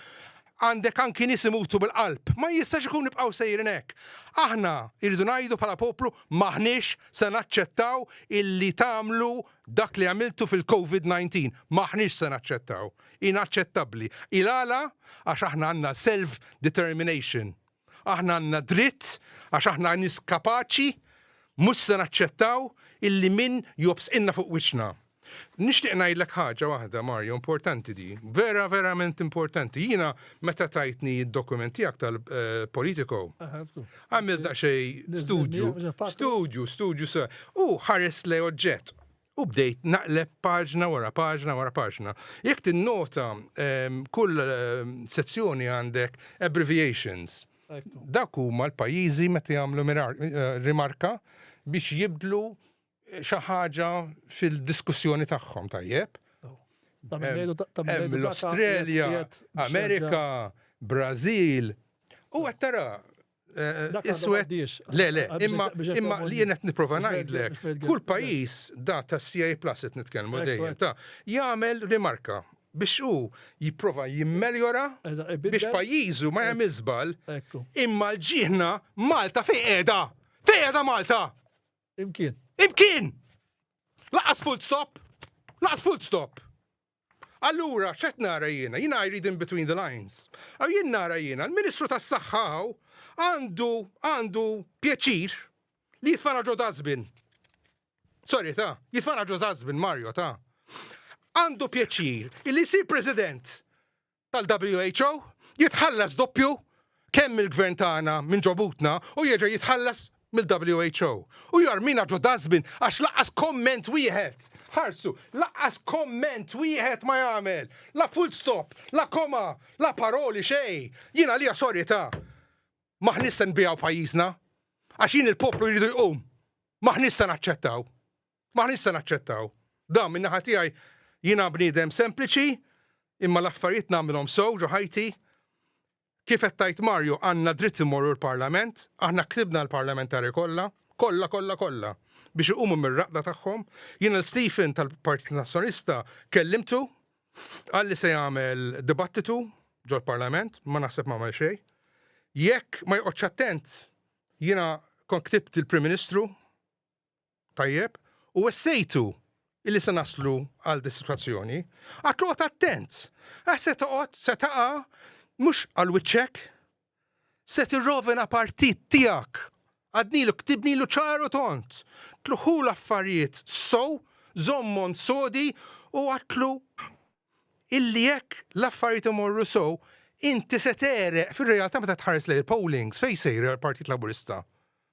Għandek anki nies imutu bil-qalb. Ma jistax ikun nibqgħu sejrin hekk. Aħna irridu ngħidu bħala poplu m'aħniex se naċċettaw illi tagħmlu dak li għamiltu fil-Covid 19. M'aħniex se naċċettaw. Inaċċettabbli. Ilala? Għax aħna għandna self determination. Aħna għandna dritt għax aħna nies kapaċi, mhux se naċċettaw illi min jobsqilna fuq wiċċna. Nixtieq ngħidlek ħaġa waħda Mario, importanti di, vera verament importanti. Jiena meta tajtni id-dokument tiegħek tal-Politico, għamil daqsxejn studju, studju, studju sa. U ħares le oġġett. U bdejt naqleb paġna wara paġna wara paġna. Jekk tinnota ehm, kull ehm, sezzjoni għandek abbreviations. Dak huma l-pajjiżi meta jagħmlu eh, rimarka biex jibdlu eh, xi ħaġa fil-diskussjoni tagħhom tajjeb. L-Australja, Amerika, Brażil, u qed tara Iswed. Le, le, imma imma li jien qed nipprova ngħidlek. Kull pajjiż da ta' CA Plus qed nitkellmu dejjem ta' jagħmel rimarka biex hu jipprova jimmeljora biex pajjiżu ma jagħmel żball. Imma l-ġieħna Malta fejn qiegħda? Fejn qiegħda Malta? Imkien. Imkien! Laqas full stop! Laqas full stop! Allura x'qed nara jiena? Jiena I read in between the lines. Aw jien nara jiena l-Ministru tas-Saħħa hawn għandu għandu pjaċir li jitfana ġo dazbin. Sorry ta, jitfana ġo dazbin Mario ta. Għandu pjaċir li jsir President tal-WHO jitħallas doppju kemm mill-Gvern tagħna minn ġo butna u jerġa' jitħallas mill-WHO. U jarmina ġo dustbin għax lanqas komment wieħed, ħarsu, lanqas komment wieħed ma jagħmel! La full stop, la koma, la paroli, xejn! Jien għalija sorry ta'. M'aħniex se nbigħu pajjiżna. Għax jien il-poplu jridu jqum. M'aħniex se naċċettaw. M'aħniex se naċċettaw dan. Min-naħa tiegħi jiena bniedem sempliċi imma l-affarijiet nagħmilhom sew ġo ħajti. Kif qed tgħid Mario, għandna dritt immorru l-Parlament, aħna ktibna l-Parlamentari kollha, kollha kollha kollha, biex iqumu mir-raqda tagħhom. Jien lil Stephen tal-Partit Nazzjonista kellimtu, qal li se jagħmel dibattitu ġol-Parlament, ma naħseb ma għamel xejn. Jekk ma joqgħodx attent, jiena kont ktibt il-Prim Ministru Tajjeb, u wessejtu illi se naslu għal din is-sitwazzjoni, għad toqgħod attent, għax se toqgħod, se taqa' mhux għal wiċċek, se tirrovina partit tiegħek, għadnilu ktibnilu ċar u tond, tlugħhu l-affarijiet sew, żommhom sodi u għidlu illi jekk l-affarijiet imorru sew, inti se tegħreq fir-realtà meta tħares lejn il-pollings fejn sejri għall-Partit Laburista.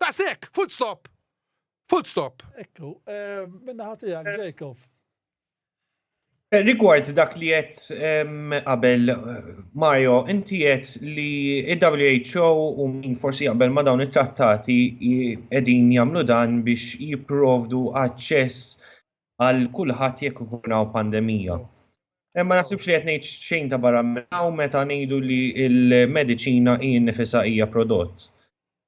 Daqshekk! Full stop! Full stop! Ekku, eh, minna ħatijak, eh. Jacob. Eh, rigward dak li jett ehm, qabel eh, Mario, inti jett li il-WHO u min forsi jaqbel ma dawn it-trattati edin jamlu dan biex jiprovdu aċċess għal kulħadd jekk u pandemija. Eh, ma naħsibx li qed ngħid xejn ta' barra minnaw meta ngħidu li l-mediċina hi nifisha hija prodott.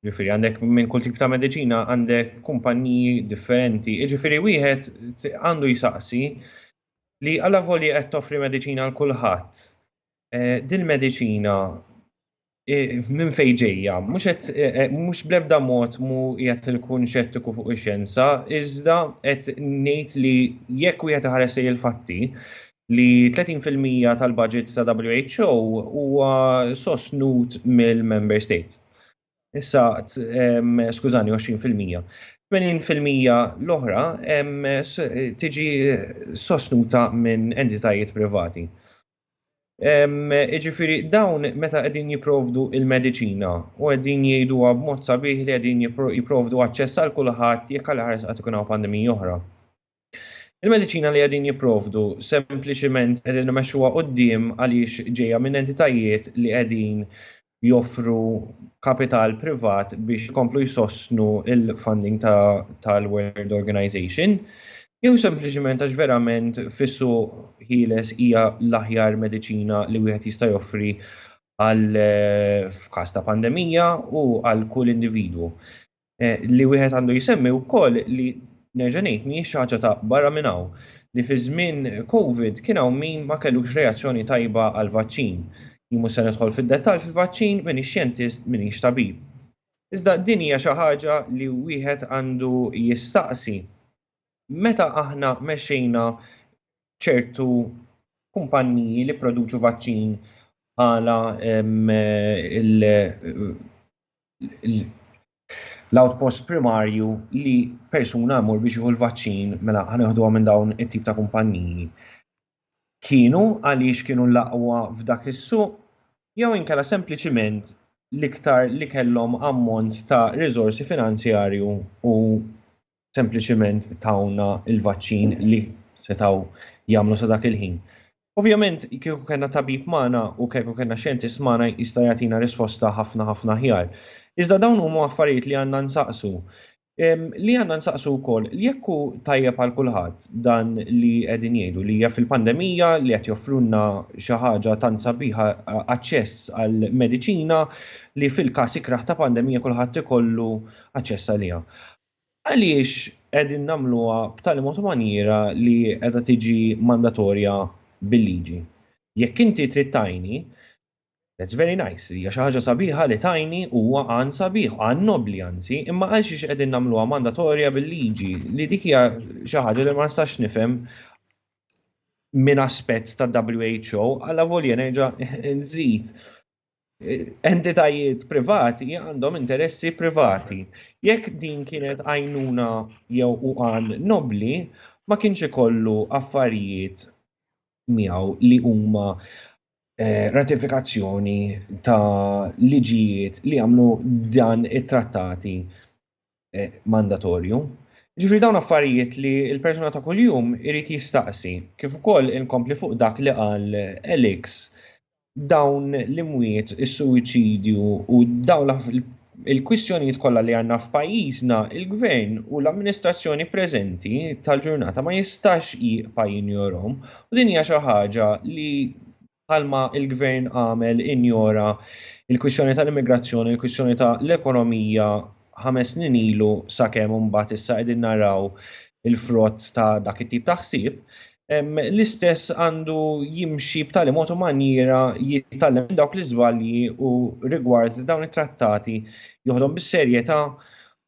Ġifieri għandek minn kull tip ta' mediċina għandek kumpaniji differenti. Ġifieri wieħed għandu jsaqsi li għala voli qed toffri mediċina għal kulħadd. Eh, din mediċina minn fejn ġejja. Mhux bl-ebda mod mhu qiegħed inkun xettiku fuq ix-xjenza, iżda qed ngħid li jekk wieħed iħares lejn il-fatti, li 30 fil-mija tal-budget ta' WHO huwa sostnut mill-Member State. Issa, skużani, 20 fil-mija. 80 fil-mija l-oħra tiġi sostnuta minn entitajiet privati. Iġifiri, dawn meta qegħdin jiprovdu il-mediċina u qegħdin jgħidu b'mod sabiħ li qegħdin jiprovdu aċċess għal kulħadd jekk għal ħares qatt ikun hawn pandemija oħra. Il-mediċina li qegħdin jiprovdu sempliċiment qegħdin imexxuha quddiem għaliex ġejja minn entitajiet li qegħdin joffru kapital privat biex ikomplu jsostnu il-funding tal-World Organization, jew sempliċiment għax verament fissu ħieles hija l-aħjar mediċina li wieħed jista' joffri għal f'każ ta' pandemija u għal kull individwu. Eh, li wieħed għandu jsemmi wkoll li nerġa' ngħid mhijiex xi ħaġa ta' barra minn hawn li fi żmien COVID kien hawn min ma kellux reazzjoni tajba għal vaċċin. Jimu se nidħol fid-dettall fil-vaċċin minn xjentist minn tabib. Iżda din hija xi ħaġa li wieħed għandu jistaqsi. Meta aħna mexxejna ċertu kumpanniji li produċu vaċċin għala eh, l-outpost primarju li persuna jmur biex jieħu l-vaċċin mela ħaneħduha minn dawn it-tip ta' kumpanniji. Kienu għaliex kienu l-aqwa f'dak is-suq jew inkella sempliċiment l-iktar li kellhom ammont ta' riżorsi finanzjarju u sempliċiment tawna il-vaċċin li setgħu jagħmlu sa dak il-ħin. Ovvjament, kieku kellna tabib magħna u kieku kellna xjentist magħna jista' jagħtina risposta ħafna ħafna ħjar. Iżda dawn huma affarijiet li għandna nsaqsu. Li għandna nsaqsu wkoll li jekk hu tajjeb għal kulħadd dan li qegħdin jgħidu li hija fil-pandemija li qed joffrulna xi ħaġa tant sabiħa aċċess għal mediċina li fil-każ ikrah ta' pandemija kulħadd ikollu aċċess għaliha. Għaliex qegħdin nagħmluha b'tali mod u manjiera li qiegħda tiġi mandatorja bil-liġi? Jekk inti trid tgħinni, that's very nice, hija xi ħaġa sabiħa li tgħinni, huwa għan sabiħ, għan nobbli anzi, imma għalxiex qegħdin nagħmluha mandatorja bil-liġi, li dik hija xi ħaġa li ma nistax nifhem minn aspett tad-WHO, allavolja nerġa' nżid entitajiet privati għandhom interessi privati. Jekk din kienet għajnuna jew u għan nobli, ma kienx ikollu affarijiet miegħu li huma eh, ratifikazzjoni ta' liġijiet li għamlu dan it-trattati mandatorju. Ġifri dawn affarijiet li l-persuna ta' kuljum irid jistaqsi, kif ukoll inkompli fuq dak li qal Elix, dawn l-imwiet, is-suwiċidju u dawn il-kwistjonijiet kollha li għandna f'pajjiżna, il-gvern u l-amministrazzjoni preżenti tal-ġurnata ma jistax jieqpa' jinjorhom u din hija xi ħaġa li bħalma l-Gvern għamel injora l-kwistjoni tal-immigrazzjoni, l-kwistjoni ta' l-ekonomija ħames snin ilu sakemm imbagħad issa qegħdin naraw il-frott ta' dak it-tip ta' ħsieb, l-istess għandu jimxi b'tali mod u manjiera jitgħallem minn dawk l-iżbalji u rigward dawn it-trattati joħodhom bis-serjetà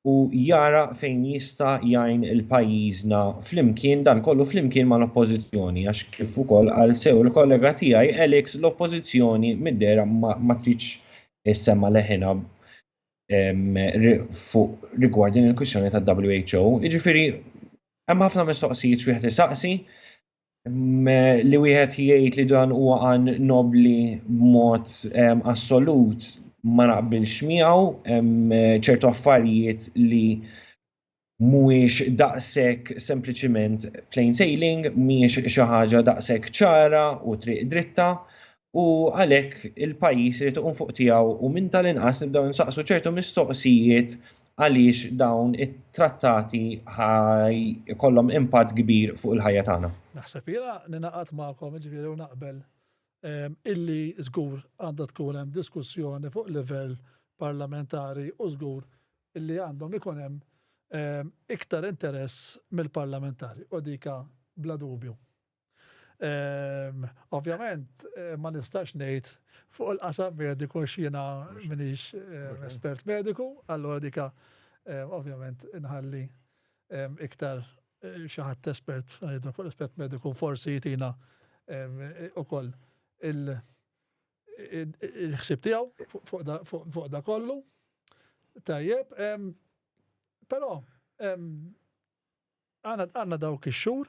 u jara fejn jista' jgħin il pajjiżna flimkien dan kollu flimkien mal-Oppożizzjoni għax kif ukoll qal sew il-kollega tiegħi Alex l-Oppożizzjoni mid-dehra ma tridx issemma' leħinha fuq rigward din il-kwistjoni tad-WHO. Jiġifieri hemm ħafna mistoqsijiet x'wieħed isaqsi li wieħed jgħid li dan huwa għan nobli b'mod assolut ma naqbilx miegħu ċertu affarijiet li mhuwiex daqshekk sempliċiment plain sailing, mhijiex xi ħaġa daqshekk ċara u triq dritta, u għalhekk il-pajjiż irid iqum fuq tiegħu u minn tal-inqas nibdew nsaqsu ċertu mistoqsijiet għaliex dawn it-trattati ħaj ikollhom impatt kbir fuq il-ħajja tagħna. Naħseb jiena ningħaqad magħkom jiġifieri u naqbel ehm, illi żgur għandha tkun hemm diskussjoni fuq livell parlamentari u żgur illi għandhom ikun hemm ehm, iktar interess mill-parlamentari u dika bla dubju. Ovvjament ma nistax ngħid fuq il-qasam mediku x'jiena minix espert mediku, allura dika ovvjament inħalli iktar xi ħadd espert ngħidlek fuq l-aspett mediku forsi jtina ukoll il-ħsieb tiegħu fuq da kollu. Tajjeb, però Aħna għandna dawk ix-xhur,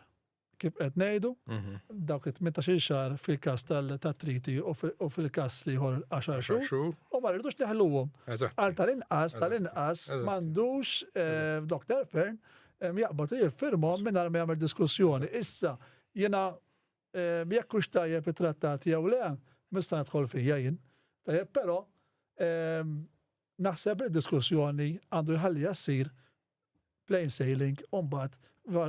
kif qed ngħidu, dawk it-tmintax-il xahar fil-każ tat-triti u fil-każ l-ieħor għaxar xhur, u ma rridux neħluhom. Għal tal-inqas, tal-inqas m'għandux Dr. Fearne jaqbad u jiffirmhom mingħajr ma jagħmel diskussjoni. Issa, jiena jekk hux tajjeb it-trattat jew le, m'nista' nidħol fija jien. Tajjeb, però Naħseb li d-diskussjoni għandu jħalliha ssir plain sailing u mbagħad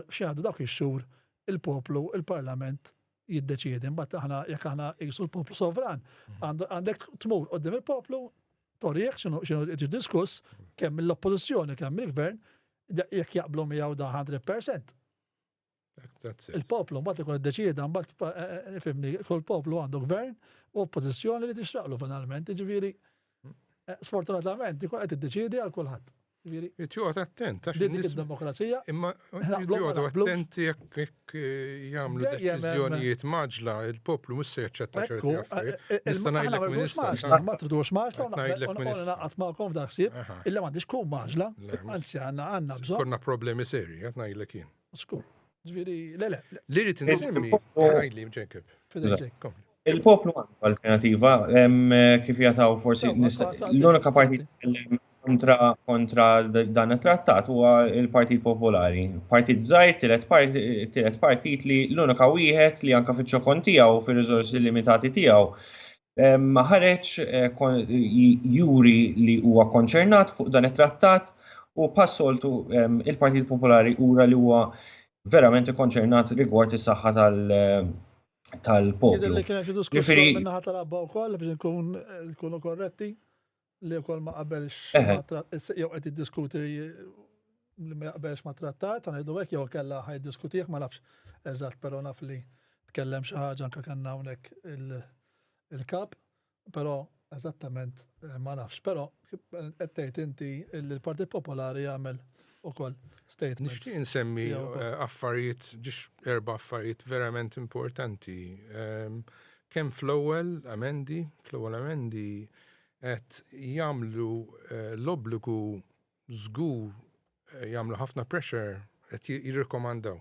x'jgħaddu dawk ix-xhur il-poplu, il-Parlament jiddeċiedi. Mbagħad aħna jekk aħna qisu l-poplu sovran, għandek tmur qudiem il-poplu torih x'inhu qed diskuss kemm mill-oppożizzjoni kemm mill-gvern jekk jaqblu miegħu da 100%. Il-poplu mbagħad ikun iddeċieda mbagħad eh, eh, eh, fimni kull poplu għandu gvern u oppożizzjoni li tixraqlu finalment, jiġifieri sfortunatament ikun qed iddeċiedi għal kulħadd. Jitjoqgħod attent għax dik id-demokrazija. Imma jitjoqgħodu attent jekk jagħmlu deċiżjonijiet maġla il-poplu mhux se jaċċetta ċerti affarijiet. Nista' ngħidlek minister. Ma tridux maġla naqgħod magħkom f'dak ħsieb illa m'għandix tkun maġla, anzi għandna għandna bżonn. Konna problemi serji qed ngħidlek jien. Skur. Ġviri, le, le. Li rrit nsemmi, għajli, ġekib. Il-poplu għandu alternativa, kif jataw forsi l-unika parti kontra kontra dan it-trattat huwa il-Partit Popolari. Partit żgħir tielet partit li l-unika wieħed li anka fiċ-ċokon tiegħu fir-riżorsi limitati tiegħu ħareġ juri li huwa konċernat fuq dan it-trattat u passoltu il-Partit Popolari ura li huwa verament konċernat rigward is-saħħa tal-poplu. Jidher li kien hemm xi diskussjoni min-naħa tal-abba wkoll biex nkunu korretti. li wkoll ma qabelx jew qed jiddiskuti li ma jaqbelx ma trattat, għan jiddu għek jew kella ħaj diskutiħ, ma nafx eżat, pero naf li tkellem xaħġa anka kanna unek il-kap, pero eżattament eh, ma nafx, pero għettejt eh, inti il-Partit Popolari għamel ukoll statements. Nixtieq insemmi eh, affarijiet, ġiex erba affarijiet verament importanti. Ehm, kemm fl-ewwel amendi, fl-ewwel amendi qed jagħmlu eh, l-obbligu żgur eh, jagħmlu ħafna pressure qed jirrikomandaw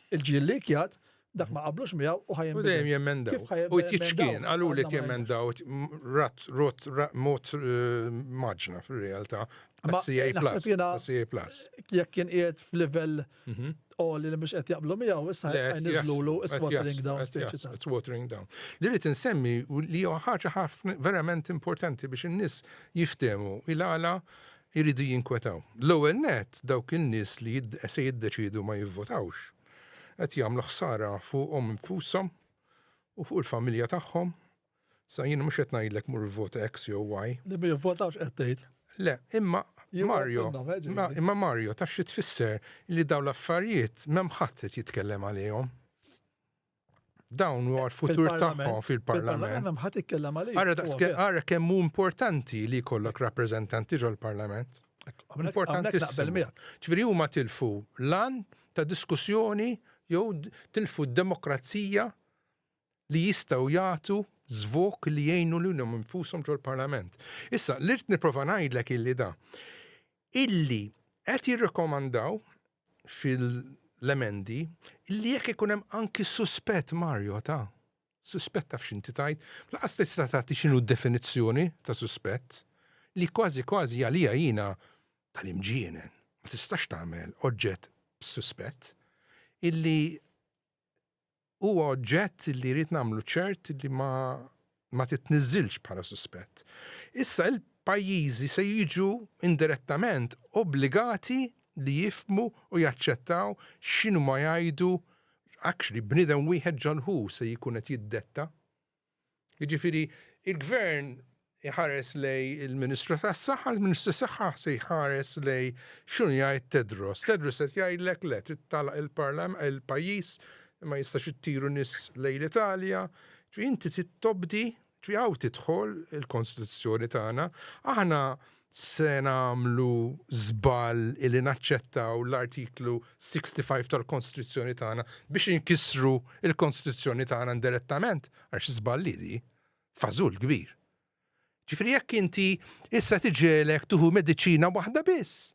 Il-ġil li jkjat, dak ma qablux miegħu u ħajjem. U dejjem jemendaw. U t-tiċkien, għalu li t-jemendaw, rat, rot, mot eh, maġna fil-realtà. CA plus. CA plus. Jekk kien qiegħed f'livell mhm. oli li mhux qed jaqblu miegħu, issa jniżlulu it's watering down. It's watering down. Li rrid insemmi li huwa ħaġa ħafna verament importanti biex in-nies jiftehmu il-għala iridu jinkwetaw. L-ewwel nett, dawk in-nies li se jiddeċiedu ma jivvotawx qed jagħmlu ħsara fuqhom infushom u fuq il-familja tagħhom. Sa jiena mhux qed ngħidlek mur ivvota X jew Y. Li ma jivvotawx qed tgħid? Le, imma Mario, imma Mario taf xi tfisser li dawn l-affarijiet m'hemm ħadd qed jitkellem għalihom. dawn u għal-futur tagħhom fil-Parlament. Għara kemm hu importanti li jkollok rappreżentanti ġol-Parlament. Importanti. Ċviri huma tilfu lan ta' diskussjoni jew tilfu d-demokrazija li jistgħu jagħtu zvok li jgħinu li nfushom ġol-Parlament. Issa, l-irt niprofa ngħidlek illi da. illi qed jirrakkomandaw fil-emendi illi jekk ikun hemm anki suspett Mario ta' suspett taf x'inti tgħid, laqas tista' tagħti x'inhu d-definizzjoni ta' suspett li kważi kważi għalija jiena tal-imġienen ma tistax tagħmel oġġett b'suspett illi huwa oġġett li jrid nagħmlu ċert li ma ma titniżżilx bħala suspett. Issa il-pajjiżi se jiġu indirettament obbligati li jifmu u jaċċettaw x'inhu ma jgħidu actually bniedem wieħed ġalħu se jkun qed jiddetta Jiġifieri l-Gvern iħares lejn il-Ministru tas-Saħħa, il-Ministru tas-Saħħa se jħares lejn x'inhu jgħid Tedros. Tedros qed jgħidlek le trid tagħlaq il-pajjiż, ma jistax ittiru nies lejn l-Italja. Inti trid tobdi, hawn tidħol il-Konstituzzjoni tagħna. Aħna Se nagħmlu żball illi naċċettaw l-Artiklu 65 tal-Konstituzzjoni tagħna biex inkissru l-Konstituzzjoni tagħna indirettament għax żball hi di, fażul kbir. Ġifieri jekk inti issa tiġielek tieħu mediċina waħda biss,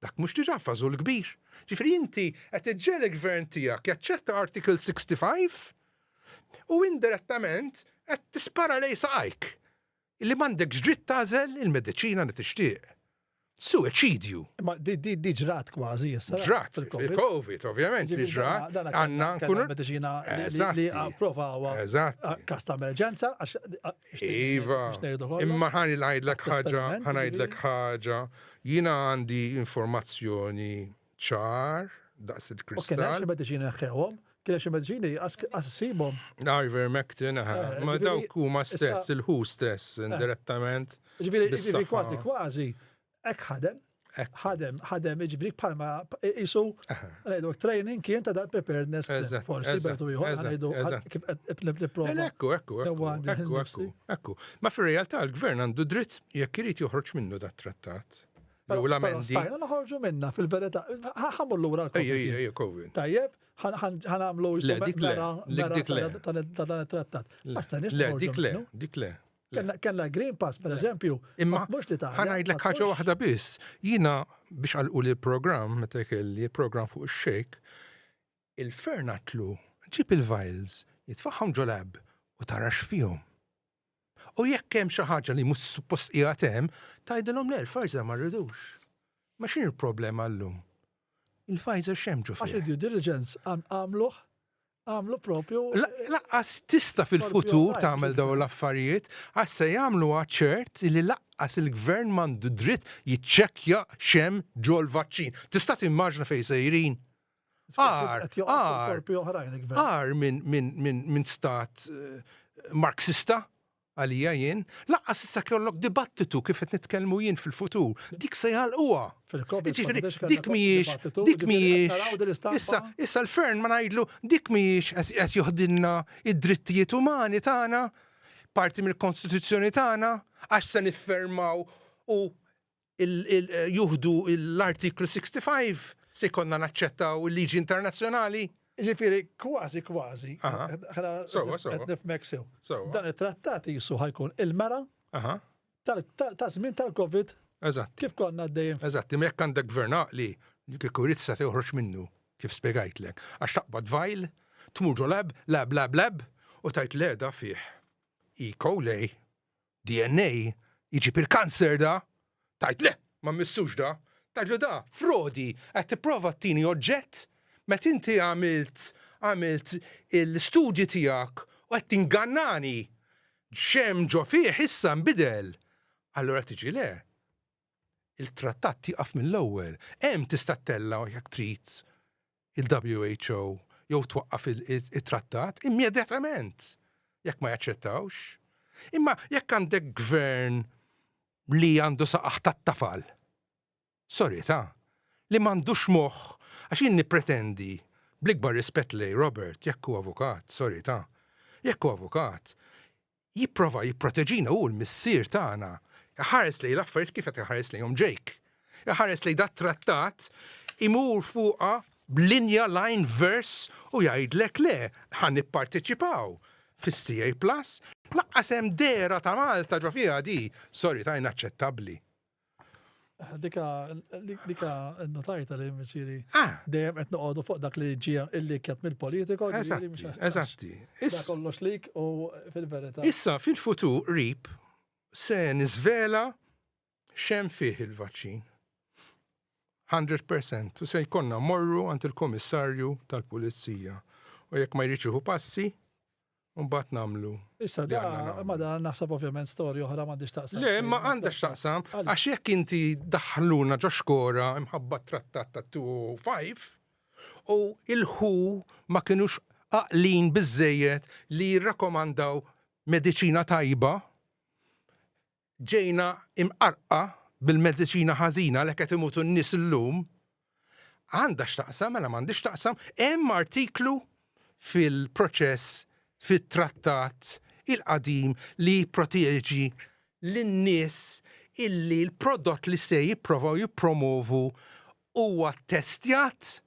dak mhux diġà fażul kbir. Ġifieri inti qed iġġielek gvern tiegħek jaċċetta Article 65 u indirettament qed tispara lejn saqajk. illi m'għandekx dritt tagħżel il-mediċina li tixtieq. Suwiċidju. Ma di ġrat kważi issa. Ġrat fil-COVID, ovvjament, li ġrat għandna nkunu. Mediċina li approvawa. Eżatt. Kas ta' emerġenza għax. Iva. Imma ħani ngħidlek ħaġa, ħanajdlek ħaġa, jiena għandi informazzjoni ċar daqs il-kristall. Kien hemm xi mediċini neħħewhom, kien hemm xi mediċini assibhom. Ivermectin, eh, eh, ma dawk huma stess, il-ħu stess, eh. indirettament. Ġifieri kważi kważi hekk ħadem. Ħadem, ħadem, ġifieri bħalma isu ngħidu training kien ta' dal preparedness forsi bertu ieħor ngħidu kif qed nipprova. Ekku, ekku, ekku, ekku. Ma fir-realtà l-gvern għandu dritt jekk irid joħroġ minnu dat-trattat. Jew l-amendi. Stajna noħorġu minna fil-verità. Ħamu l-lura l-COVID. Tajjeb, ħanamlu ta' dan it-trattat. Le, dik le, dik le. Kenna Green Pass, per eżempju, imma mux li ta' ħanajdlek ħaġa waħda biss. Jina biex għalqu li program, meta kelli program fuq il-xejk, il-fernatlu ġib il-vials, jitfaħħom ġolab u tarax fihom. U jekk hemm xi ħaġa li mhux suppost qiegħed hemm, tgħidilhom le l-Pfizer ma rridux. Ma x'inhi l-problema llum? Il-Pfizer x'hemm ġo fih? Għax id-due diligence għamluh għamlu propju. Laqqas tista fil-futur tagħmel daw l-affarijiet għax se jagħmlu ċert li laqqas il-gvern m'għandu dritt jiċċekkja xem ġol-vaċċin. Tista' timmaġna fejn sejrin? Għar, għar minn stat eh, marxista għalija jien, laqqas issa kellok dibattitu kif qed nitkellmu jien fil-futur. Dik se jgħalquha. Dik mhijiex, dik mhijiex. Issa, issa l-fern ma ngħidlu dik mhijiex qed joħdilna id-drittijiet umani tagħna, parti mill-Kostituzzjoni tagħna, għax se niffermaw u juħdu l-Artiklu 65, se jkollna naċċettaw il-liġi internazzjonali. Ġifieri kważi kważi. Sewwa, sewwa. Qed nifhmek sew. Dan it-trattat qisu ħajkun il-mera ta' żmien tal-COVID. Eżatt. Kif konna għaddejjin. Eżatt, imma jekk għandek gvern għaqli, kieku jrid se joħroġ minnu, kif spjegajtlek. Għax taqbad vajl, tmur ġo lab, lab, lab, lab, u tajt leda fih. Iko lej, DNA jġib il-kanser da! Tgħid le, ma mmissux da! Tgħidlu da frodi, qed tipprova tini oġġett meta inti għamilt għamilt l-istudji tiegħek u qed tingannani! X'hemm ġo fih issa nbidel! Allura tiġi le, il-trattat jieqaf mill-ewwel. Hemm tista' ttellgħu jekk trid il-WHO jew twaqqaf it-trattat immedjatament jekk ma jaċċettawx. Imma jekk għandek gvern li għandu saqaħ tat-tafal, sorita, li m'għandux moħħ għax jien nippretendi bl-ikbar rispett lej Robert jekk hu avukat, sorita, jekk hu avukat, Jipprova jipproteġina hu l-Missier tagħna. Iħares lejn l-affarijiet kif qed iħares lejhom Jake. Iħares lejn dat-trattat, imur fuqha b'linja line verse u jgħidlek le, ħa nipparteċipaw fis-CA Plus. Lanqas hemm dehra ta' Malta ġo fiha di, sorry, ta' inaċċettabbli. Dika, dika, notajta li mċiri. Ah. Dejem qed noqogħdu fuq dak li ġija illi kjat mill-politiko. Eżatti, eżatti. Issa kollox lik u fil-verità. Issa fil-futur rip se nizvela xem fih il-vaċċin. 100% u se jkonna morru għand il-komissarju tal-pulizija. U jekk ma jriċiħu passi, U mbagħad nagħmlu. Issa da, ma da naħseb ovvjament storja oħra m'għandix taqsam. Le, ma għandek taqsam, għax jekk inti daħluna ġo xkora imħabba trattat ta' 205 u il-ħu ma kinux aqlin biżejjed li jirrakomandaw mediċina tajba, Ġejna imqarrqa bil-mediċina ħażina għalhekk qed imutu n-nies illum. Għandha x'taqsam, mela m'għandhiex taqsam, hemm artiklu fil-proċess fit-trattat il-qadim li jipproteġi lin-nies illi l-prodott li se jipprovaw jippromovu huwa ttestjat?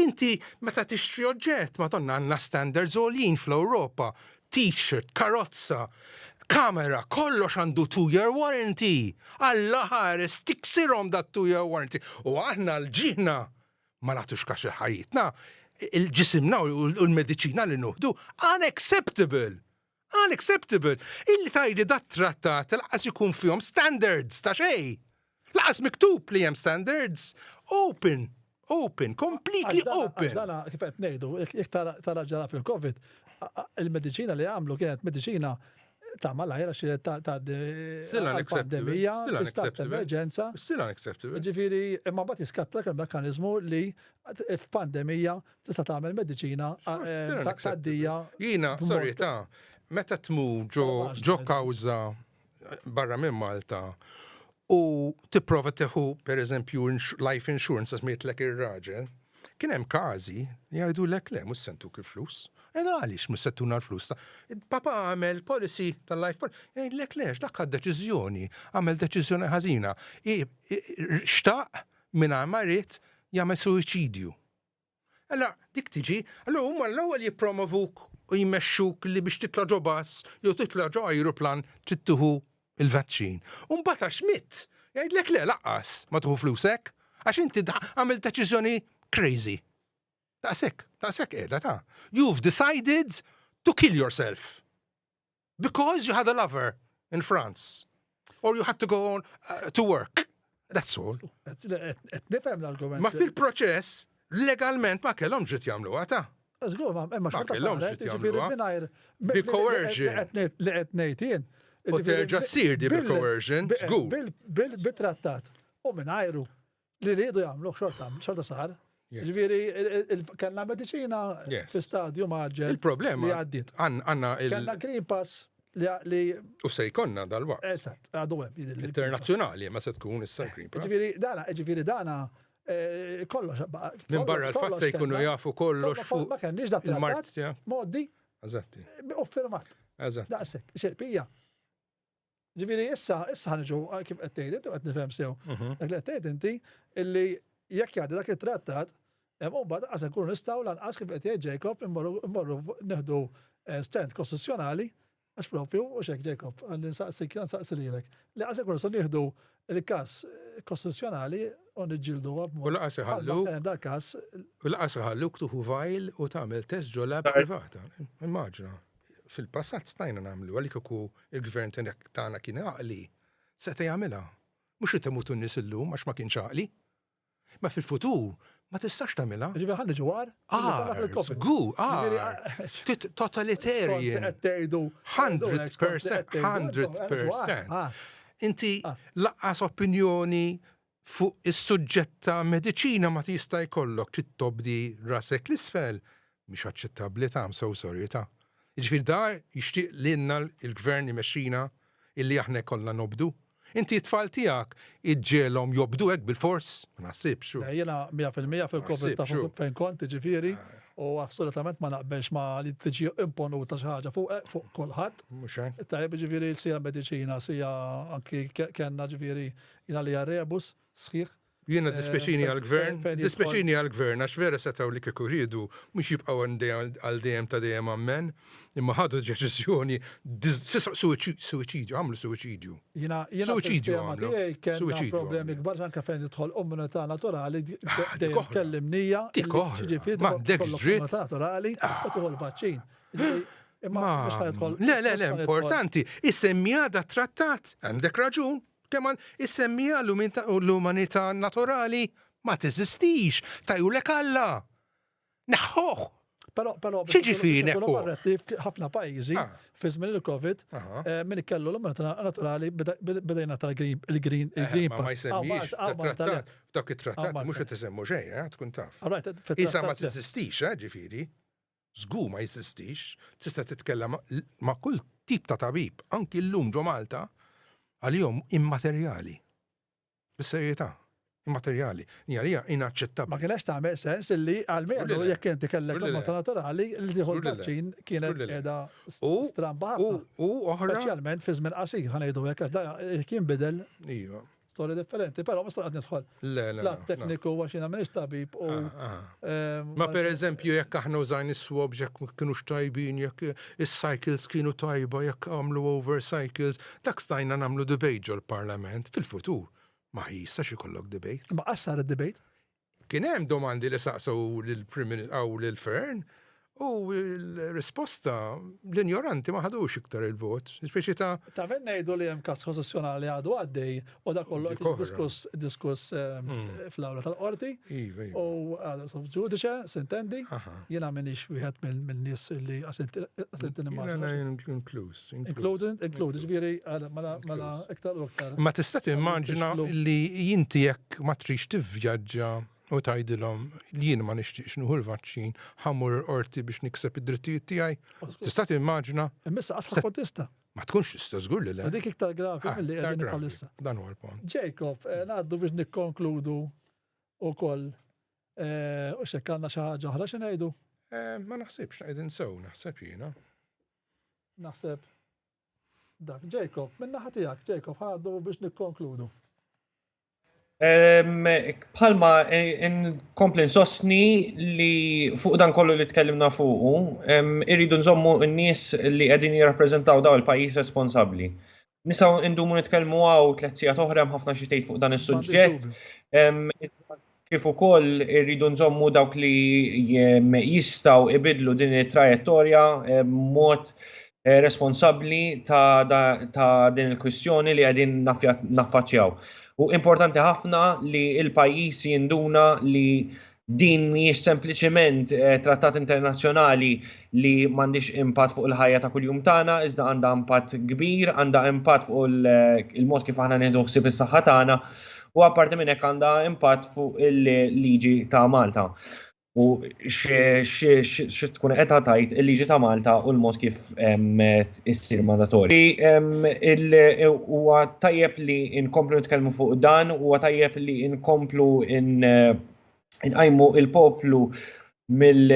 Inti meta tixtri oġġett, Madonna għandna standards għoljin fl-Ewropa, t-shirt, karozza, kamera, kollox għandu two year warranty. Alla ħares tiksirhom dat two year warranty. U aħna l-ġieħna ma nagħtux kax il-ħajjitna, il-ġisimna u l-mediċina li nuħdu unacceptable. Unacceptable! Illi tgħidli dat-trattat lanqas ikun fihom standards ta' xejn! Lanqas miktub li hemm standards! Open! Open! Completely open! Għax dana kif qed ngħidu, jekk tara ġara fil-Covid, il-mediċina li għamlu kienet mediċina ta' malajr għax kienet tgħaddi għall-pandemija, l-istat ta' emerġenza. Still unacceptable. Ġifieri, imma mbagħad jiskatta dak il-mekkaniżmu li f'pandemija tista' tagħmel mediċina taqdija. Jiena, sorry, ta' meta tmur ġo kawża barra minn Malta u tipprova teħu per eżempju life insurance għax mietlek ir-raġel, kien hemm każi jgħidu lek le mhux sentu kif flus. Ena għaliex mhux settuna l-flus ta' papa għamel policy tal-life policy. Jgħid lek lex dak għad deċiżjoni, għamel deċiżjoni ħażina. Xtaq minn ma jrid jagħmel suicidju. Alla dik tiġi, allura huma l-ewwel jippromovuk u jmexxuk li biex titla' ġo bass jew titla' ġo ajruplan trid tieħu l-vaċċin. U mbagħad għax mitt, jgħidlek le laqqas ma tieħu flusek għax inti għamilt deċiżjoni crazy. Daqshekk, daqshekk qiegħda ta'. You've decided to kill yourself. because you had a lover in France or you had to go on uh, to work. That's all. Nifhem l-argument. Ma fil-proċess, legalment ma kellhom ġiet jagħmlu għata. Żgur, ma ma xorta saret, ġifieri mingħajr. Bi coercion. Li qed ngħid jien. U terġa' ssir di bi coercion, żgur. Bil-trattat. U mingħajru. li rridu jagħmlu xorta xorta sar. Ġifieri kellna mediċina fi stadju maġġel. Il-problema li għaddiet. Għandna il Kellna Green Pass li. U se jkollna dal-waqt. Eżatt, għadu hemm. Internazzjonali ma se tkun issa Green Pass. Ġifieri dana, ġifieri dana eh, kollox. Minn barra l-fatt se jkunu jafu kollox fuq. Ma kenniex dak il-mart. Moddi. Eżatti. U firmat. Eżatt. Daqshekk, xerpija. Ġifieri issa issa ħaniġu kif qed tgħid inti qed nifhem sew. Mhm. Dak li qed tgħid inti illi jekk jgħaddi dak it-trattat hemm mbagħad qas ikunu nistgħu lanqas kif qed jgħid Jacob immorru neħdu eh, stand kostituzzjonali għax propju u xek Jacob għalli nsaqsi kien nsaqsi lilek li qas ikunu se nieħdu il-każ kostituzzjonali u niġġieldu għab. U laqas iħallu. Dal każ. U laqas iħallu ktuħu vajl u tagħmel test ġolla privata. Immaġna. Fil-passat stajna nagħmluha li kieku il-gvern tagħna kien għaqli, seta' jagħmilha. Mhux irid imutu n-nies illum għax ma kienx għaqli. Imma fil-futur ma tistax tagħmilha. Ġifieri ħalli ġew għar? Għar, żgur, għar. Totalitarian. Qed tgħidu 100%, 100%. Inti laqqas opinjoni Fuq is-suġġett ta' mediċina ma tista' jkollok trid tobdi rasek 'l isfel, mhix aċċettabbli ta', I'm so sorry ta'. Jiġifieri da jixtieq lilna l-Gvern imexxina illi aħna jkollna nobdu? Inti t-tfal tiegħek iġġiegħlhom jobdu hekk bil-fors? Ma naħsibx hu. Le, jiena mija fil-mija fil-Covid taf fejn kont, jiġifieri, u assolutament ma naqbilx ma' li tiġi imponuta xi ħaġa fuqek, fuq kulħadd. Mhux hekk. Tajjeb, jiġifieri sija mediċina, sija anki kellna jiġifieri Jien għalija rebus sħiħ. Jiena dispjaċini għall-Gvern, dispjaċini għall-Gvern għax vera setgħu li kieku riedu mhux jibqgħu għal dejjem ta' dejjem ammen, imma ħadu deċiżjoni suwiċidju, għamlu suwiċidju. Jiena suwiċidju għamlu. Kellna problemi kbar anke fejn tidħol immunità naturali dejjem tkellim nija. Dik oħra. M'għandekx dritt. Naturali u tieħu l-vaċċin. Imma le, le, le, importanti, is-semmija da trattat, għandek raġun, Teman, Is-semmiegħa u l-umanità naturali ma teżistix, tajulek Alla! Neħħuh! X'jiġifieri neħħuh? Ħafna pajjiżi fi żmien il-Covid min kellu l-umanità naturali beda jingħata l-green pass. Ma jsemmix tat-trattat, f'dawk it-trattati mhux qed isemmu xejn, tkun taf. Qisha ma teżistix, ġifieri. Żgur ma jeżistix, tista' titkellem ma' kull tip ta' tabib, anki llum ġo Malta, għalihom immaterjali. Bis-serjetà, immaterjali. Hija hija inaċċettabbli. Ma kienax tagħmel sens illi għal menu jekk inti kellek il-morta naturali li tieħu l-vaċċin kienet qiegħda stramba ħafna. U oħra. Speċjalment fi żmien qasir, ħa ngħidu hekk, għax da jinbidel. Iva. Storja differenti, però ma sarqat nidħol. Le, le. Flat tekniku għax jiena m'iniex tabib u. Ah, ah. Ehm, ma per eżempju jekk aħna użajn is-swab jekk kienu xtajbin, jekk is-cycles kienu tajba, jekk għamlu over cycles, dak stajna nagħmlu debate ġol-parlament fil-futur. Ma jistax ikollok debate. Ma qassar id-debate. Kien hemm domandi li saqsew lill-Prim u lil Fearne u l-risposta l-injoranti ma ħadux iktar il-vot. Speċi ta'. Ta' min ngħidu li hemm każ kostituzzjonali għadu għaddej u dak kollu qed diskuss fl-awla tal-qorti. Iva, iva. U għadu sub ġudice, sintendi, jiena m'iniex wieħed minn nies li qasint il-immaġinazzjoni. Jiena inkluż. Include, ġviri, mela, mela, iktar u iktar. Ma tista' timmaġina li jinti jekk ma trix tivvjaġġa u tgħidilhom li jien ma nixtieqx nuħu l-vaċċin, ħammur orti biex nikseb id-drittijiet tiegħi. Tista' timmaġina? Immissa qatt ħadd tista'. Ma tkunx tista' żgur li le. Dik iktar gravi ah, milli qegħdin bħalissa. Dan huwa l-punt. Jacob, eh, ngħaddu biex nikkonkludu ukoll eh, u xekk għandna xi ħaġa oħra xi ngħidu? Eh, ma naħsibx qegħdin sew naħseb jiena. Naħseb dak Jacob, minn naħa tiegħek Jacob ħadu biex nikkonkludu. Bħalma nkompli nsostni li fuq dan kollu li tkellimna fuqu, irridu nżommu n-nies li qegħdin jirrappreżentaw daw il-pajjiż responsabbli. Nisaw indumu nitkellmu għaw tliet sigħat oħra hemm ħafna xi tgħid fuq dan is-suġġett. Kif ukoll irridu nżommu dawk li jistgħu ibidlu din it-trajettorja mod eh, responsabbli ta' din il-kwistjoni li qegħdin naffaċċjaw. U importanti ħafna li il-pajjiż jinduna li Din mhijiex sempliċiment eh, trattat internazzjonali li m'għandix impatt fuq il-ħajja ta' kuljum tagħna, iżda għandha impatt kbir, għandha impatt fuq eh, il-mod kif aħna nieħdu ħsieb is-saħħa tagħna u apparti minn hekk għandha impatt fuq il-liġi ta' Malta. U xi tkun qed tgħid il-liġi ta' Malta u l-mod kif issir mandatorja. Huwa tajjeb li nkomplu nitkellmu fuq dan, huwa tajjeb li nkomplu nqajmu il-poplu mill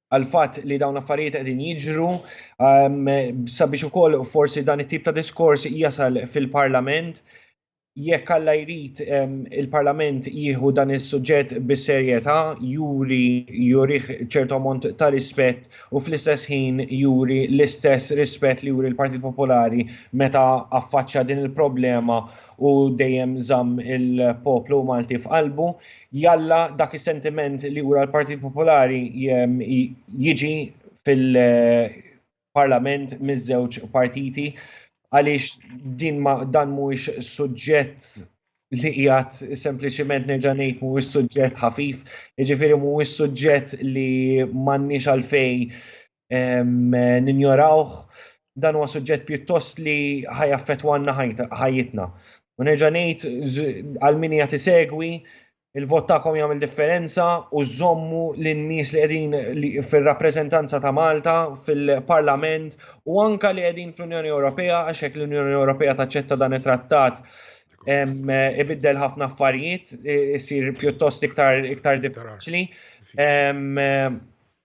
għal-fat li dawn affarijiet qegħdin jiġru sabiex ukoll forsi dan it-tip ta' diskors jasal fil-Parlament jekk alla jrid il-Parlament jieħu dan is-suġġett bis-serjetà, juri jurih ċertu ammont ta' rispett u fl-istess ħin juri l-istess rispett li juri l-Partit Popolari meta affaċċja din il-problema u dejjem żamm il-poplu Malti f'qalbu. Jalla dak is-sentiment li jura l-Partit Popolari jiġi fil- parlament miż-żewġ partiti għaliex din ma dan mhuwiex suġġett li qiegħed sempliċiment nerġa' ngħid mhuwiex suġġett ħafif, jiġifieri mhuwiex suġġett li m'għandniex għalfejn ehm, ninjorawh, dan huwa suġġett pjuttost li ħajaffetwanna ħajjitna. U nerġa' ngħid għal min hija tisegwi Il-vot tagħkom jagħmel differenza u żommu lin-nies li qegħdin fir-rappreżentanza ta' Malta fil-Parlament u anka li qegħdin fl-Unjoni Ewropea għax hekk l-Unjoni Ewropea taċċetta dan it-trattat ibiddel ħafna affarijiet, isir pjuttost iktar iktar diffiċli.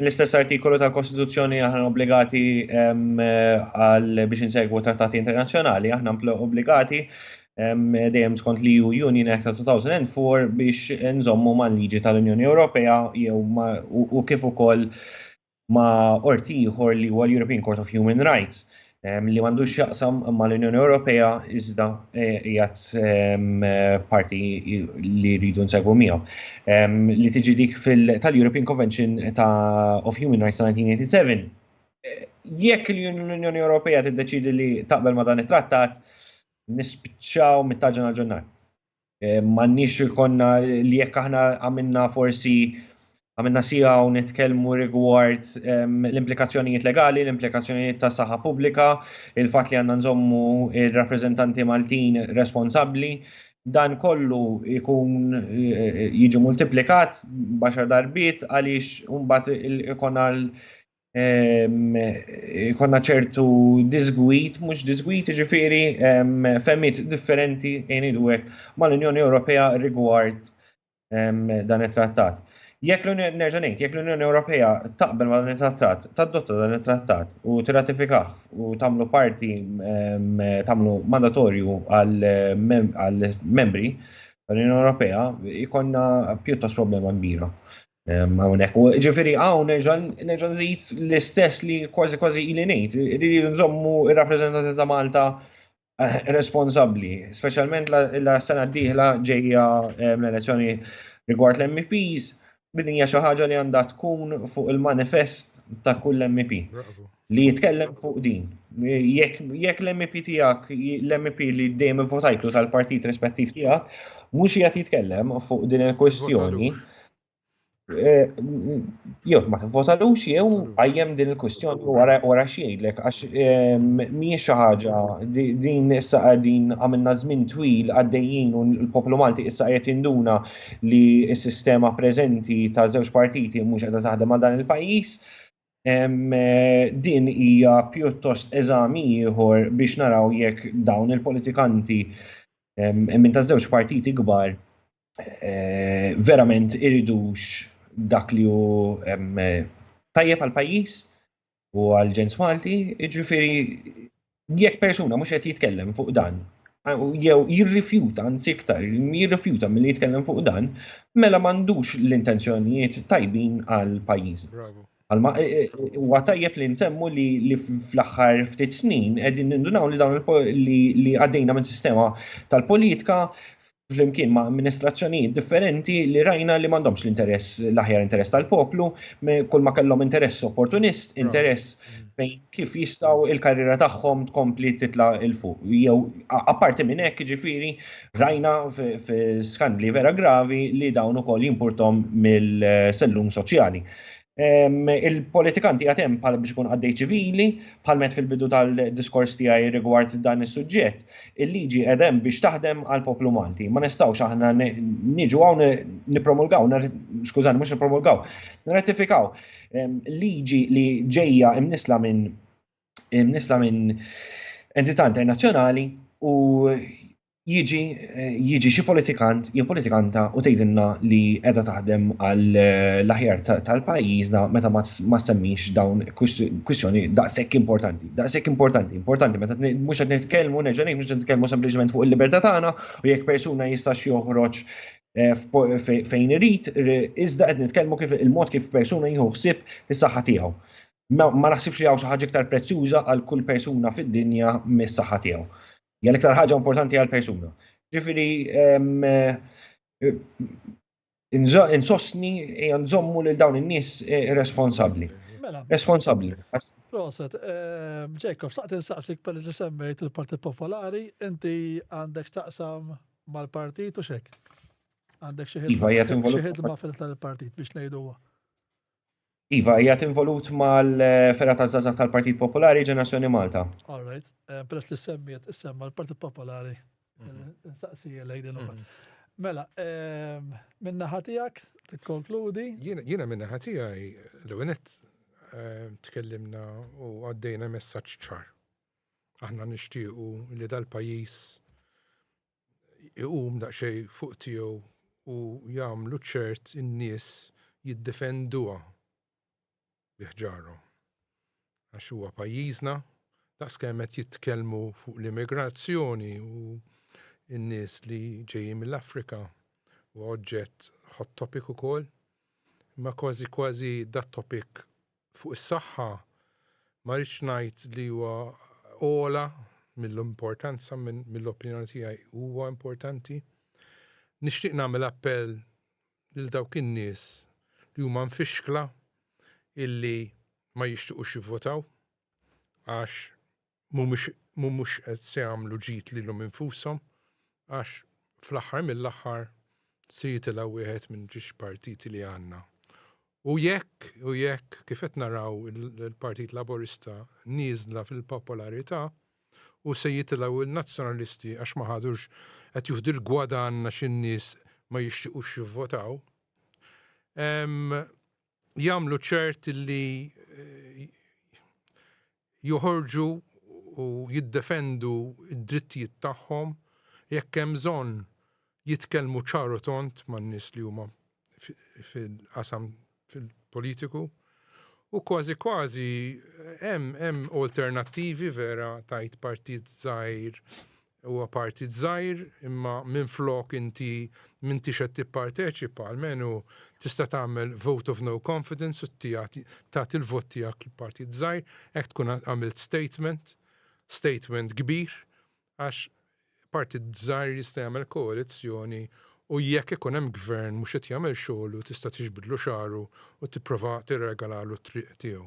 L-istess artikolu tal-Kostituzzjoni aħna obbligati għal biex insegwu trattati internazzjonali, aħna obbligati dejjem skont li ju Union Act ta' 2004 biex nżommu ma' liġi tal-Unjoni Ewropea jew u kif ukoll ma' orti ieħor li huwa l-European Court of Human Rights. li m'għandux jaqsam ma' l-Unjoni Ewropea iżda jgħat parti li rridu nsegwu miegħu. Li tiġi dik tal-European Convention of Human Rights 1987. Jekk l-Unjoni Ewropea tiddeċidi li taqbel ma' dan it-trattat, nispiċċaw mit-taġġa għal ġunnar. M'għandniex ikollna li jekk aħna għamilna forsi għamilna sija u nitkellmu rigward ehm, l-implikazzjonijiet legali, l-implikazzjonijiet ta' saħħa pubblika, il-fatt li għandna nżommu il-rappreżentanti Maltin responsabbli, dan kollu jkun eh, jiġi multiplikat baxar darbiet għaliex mbagħad ikun għal konna ċertu disgwit, mhux disgwit, ġifiri femmit differenti in idwek mal-Unjoni Ewropea rigward dan it-trattat. Jekk l-Unjoni nerġa' ngħid, jekk l-Unjoni Ewropea taqbel ma' dan it-trattat, tadotta dan it-trattat u tirratifikah u tagħmlu parti tagħmlu mandatorju għal membri tal-Unjoni Ewropea, ikonna pjuttost problema kbira. Hawnhekk, ġifieri hawn nerġa' nżid l-istess li kważi kważi ili ngħid, li nżommu r-rappreżentanti ta' Malta eh, responsabbli, speċjalment la sena d-dieħla ġejja l-elezzjoni rigward l-MPs, din hija xi ħaġa li għandha tkun fuq il-manifest ta' kull MP. li jitkellem fuq din. Jekk l-MP tijak, l-MP li dejjem votajtlu tal-partit rispettiv tijak, mux jgħat jitkellem fuq din il-kwestjoni, eh, jew ma t-votalux jew għajjem din il-kwestjoni wara xiejlek, għax eh, miex xaħġa din issa għadin għamilna zmin twil għaddejjien u l-poplu Malti issa għajet induna li s-sistema prezenti ta' zewġ partiti mux għadha taħdem għal dan il-pajis. Din hija pjuttost eżami ieħor biex naraw jekk dawn il-politikanti minn ta' żewġ partiti kbar eh, verament iridux dak li hu tajjeb għal pajjiż u għal ġens Malti, jiġifieri jekk persuna mhux qed jitkellem fuq dan, jew jirrifjuta anzi iktar, jirrifjuta milli jitkellem fuq dan, mela m'għandux l-intenzjonijiet tajbin għal pajjiż. Għalma e, e, e, huwa tajjeb li nsemmu li fl-aħħar ftit snin qegħdin nindunaw li dawn li għaddejna minn sistema tal-politika flimkien ma' amministrazzjonijiet differenti li rajna li m'għandhomx l-interess l-aħjar interess tal-poplu, kull ma kellhom interess opportunist, interess bejn mm. kif jistgħu il-karriera tagħhom tkompli titla' il fuq. Jew apparti minn hekk ġifieri rajna f'skandli vera gravi li dawn ukoll jimpurtom mill-sellum soċjali. Il-politikanti għad hemm bħal biex ikun għaddej ċivili, bħal met fil-bidu tal-diskors tiegħi rigward dan is-suġġett, il-liġi qed hemm biex taħdem għal poplu Malti. Ma nistgħux aħna niġu hawn nippromulgaw, skużani mhux nippromulgaw, nirratifikaw liġi li ġejja imnisla minn imnisla minn entità internazzjonali u jiġi jiġi xi politikant jew politikanta u tgħidilna li qiegħda taħdem għal eh, l-aħjar tal-pajjiżna meta ma semmix dawn kwistjoni daqshekk importanti. Daqshekk importanti, importanti meta mhux qed nitkellmu nerġa' mhux qed nitkellmu sempliċement fuq il-libertà tagħna u jekk persuna jistax joħroġ eh, fejn irid, iżda qed nitkellmu kif il-mod kif persuna jieħu ħsieb is-saħħa tiegħu. Ma naħsibx li hawn xi ħaġa iktar prezzjuża għal kull persuna fid-dinja mis-saħħa tiegħu. Hija l-iktar ħaġa importanti għal persuna. Ġifieri insostni hija nżommu lil dawn in-nies eh, responsabbli. Mela. Responsabbli. Proset, eh, Jacob, saqt insaqsik per li semmejt il-Partit Popolari, inti għandek taqsam mal-partit u xek? Għandek xi ħidma iva, fil-tal-partit biex ngħidu Iva, jgħat involut mal-fera ta' Zaza tal-Partit Popolari Ġenerazzjoni Malta. All right, eh, peress li semmiet semma l-Partit Popolari, mhm. eh, saqsi lej din mhm. Mela, eh, minna ħatijak, t-konkludi? Jena minna ħatijaj, l-għenet, tkellimna u għaddejna messaċ ċar. Aħna nishtiqu li dal-pajis iqum daqsxejn fuq tiegħu u jagħmlu ċert in-nies jiddefenduha bi ħġarhom. Għax huwa pajjiżna, daqs kemm qed jitkellmu fuq l-immigrazzjoni u n-nies li ġejjin mill-Afrika huwa oġġett hot topic ukoll, imma kważi kważi dat-topic fuq is-saħħa ma rridx ngħid li huwa ogħla mill-importanza mill-opinjoni tiegħi huwa importanti. Nixtieq nagħmel appell lil dawk in-nies li huma mfixkla illi ma jixtiequx jivvotaw għax mhumiex qed se jagħmlu ġid lilhom infushom għax fl-aħħar mill-aħħar se jitilgħu wieħed minn ġiex partiti li għandna. U jekk, u jekk, kif qed naraw il-Partit Laburista nieżla fil-popolarità u se jitilgħu n-Nazzjonalisti għax ma ħadux qed jieħdu l-gwadann għax in-nies ma jixtiequx jivvotaw, ehm, jagħmlu ċert li joħorġu u jiddefendu d-drittijiet tagħhom jekk hemm bżonn jitkellmu ċar u tond man-nies li huma fil-qasam fil-politiku u kważi kważi hemm hemm alternattivi vera tajt partit żgħir Huwa partit żgħir, imma minflok inti m'intix qed tipparteċipa, almenu tista' tagħmel vote of no confidence u tagħti l-vot tiegħek l-partit żgħir, hekk tkun għamilt statement, statement kbir, għax partit żgħir jista' jagħmel koalizzjoni u jekk ikun hemm gvern mhux qed jagħmel xogħlu tista' tiġbidlu xagħru u tipprova tirregalalu t-triq tiegħu.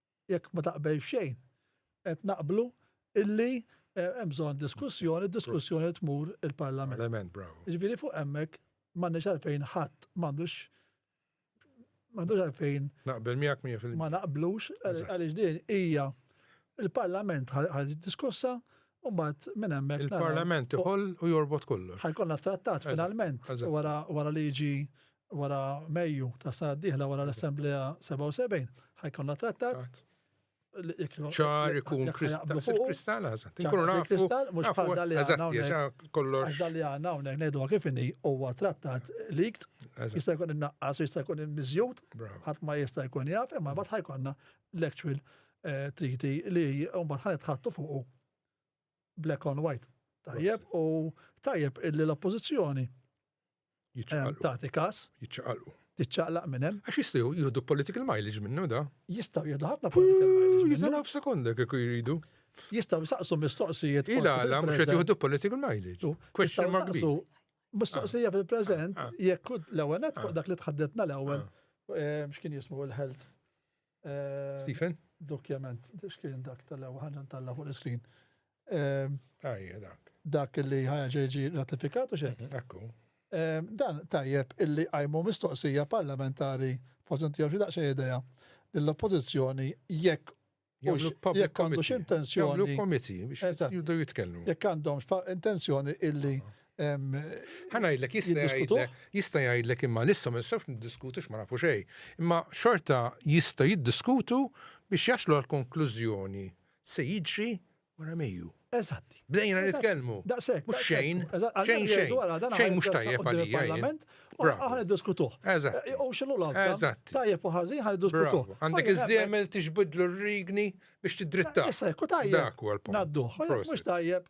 Jekk ma taqbel f'xejn, qed naqblu illi hemm bżonn diskussjoni, d-diskussjoni tmur il-Parlament. Parlament, bravo. Jiġifieri fuq hemmhekk m'għandniex għalfejn ħadd m'għandux m'għandux għalfejn. Naqbel miegħek 100%. Ma naqblux għaliex din hija il-Parlament ħad diskussa u mbagħad minn hemmhekk. Il-Parlament iħoll u jorbot kollu. Ħajkonna trattat finalment wara liġi wara Mejju ta' sena d-dieħla wara l-Assemblea 77 ħajkonna trattat ċar ikun kristall għazat. Inkunu nafu. Kristall mux bħal dalli għanna. Kollox. Dalli għanna unnek nejdu għakifini huwa trattat likt. Jista' jkun innaqqas, jista' jkun mizjut. Ħadd ma jista' jkun jaf, imma bat ħajkonna l-actual eh, triti li mbagħad ħanet ħattu fuqu black on white. Tajjeb u tajjeb illi l-oppożizzjoni Jiċċaqalqu. Tagħti każ. Jiċċaqalqu. Tiċċaqlaq minn hemm. Għax jistgħu jieħdu political mileage minnu da. Jistgħu jieħdu ħafna political mileage. Jiżalaw f'sekonda kieku jridu. Jistgħu jsaqsu mistoqsijiet. Ilala mhux qed jieħdu political mileage. Question mark bi. Mistoqsija fil-preżent ah, ah. jekk l-ewwel net fuq ah. dak li tħaddetna l-ewwel eh, x'kien jismu l-health. Stephen? Dokjament, xkien dak tal-ewa ħagġa talla fuq l-iskrin. Għajja dak. Dak li ħagġa ġi ratifikat u xek? Mhm, ekku. Dan tajjeb illi għajmu mistoqsija parlamentari, forse ntijaw xie daqxie ideja, l-oppozizjoni jekk jekk għandux intenzjoni. Jekk għandhom intenzjoni illi Ħa ngħidlek jista' jgħidlek imma lissa ma nistgħux niddiskutu x'ma nafu xejn. Imma xorta jista' jiddiskutu biex jaslu għal konklużjoni se jiġri wara Mejju. Eżatt. Bdejna nitkellmu. Daqshekk. Mhux xejn. Xejn xejn. Xejn mhux tajjeb għalija. Aħna niddiskutuh. Eżatt. Eh, u x'inhu l-għalf? Eżatt. Tajjeb u ħażin ħa niddiskutuh. Għandek iż-żiemel tixbidlu r-rigni biex tiddritta. Issa jekk tajjeb. Dak huwa l-punt. Nadduh. Mhux tajjeb.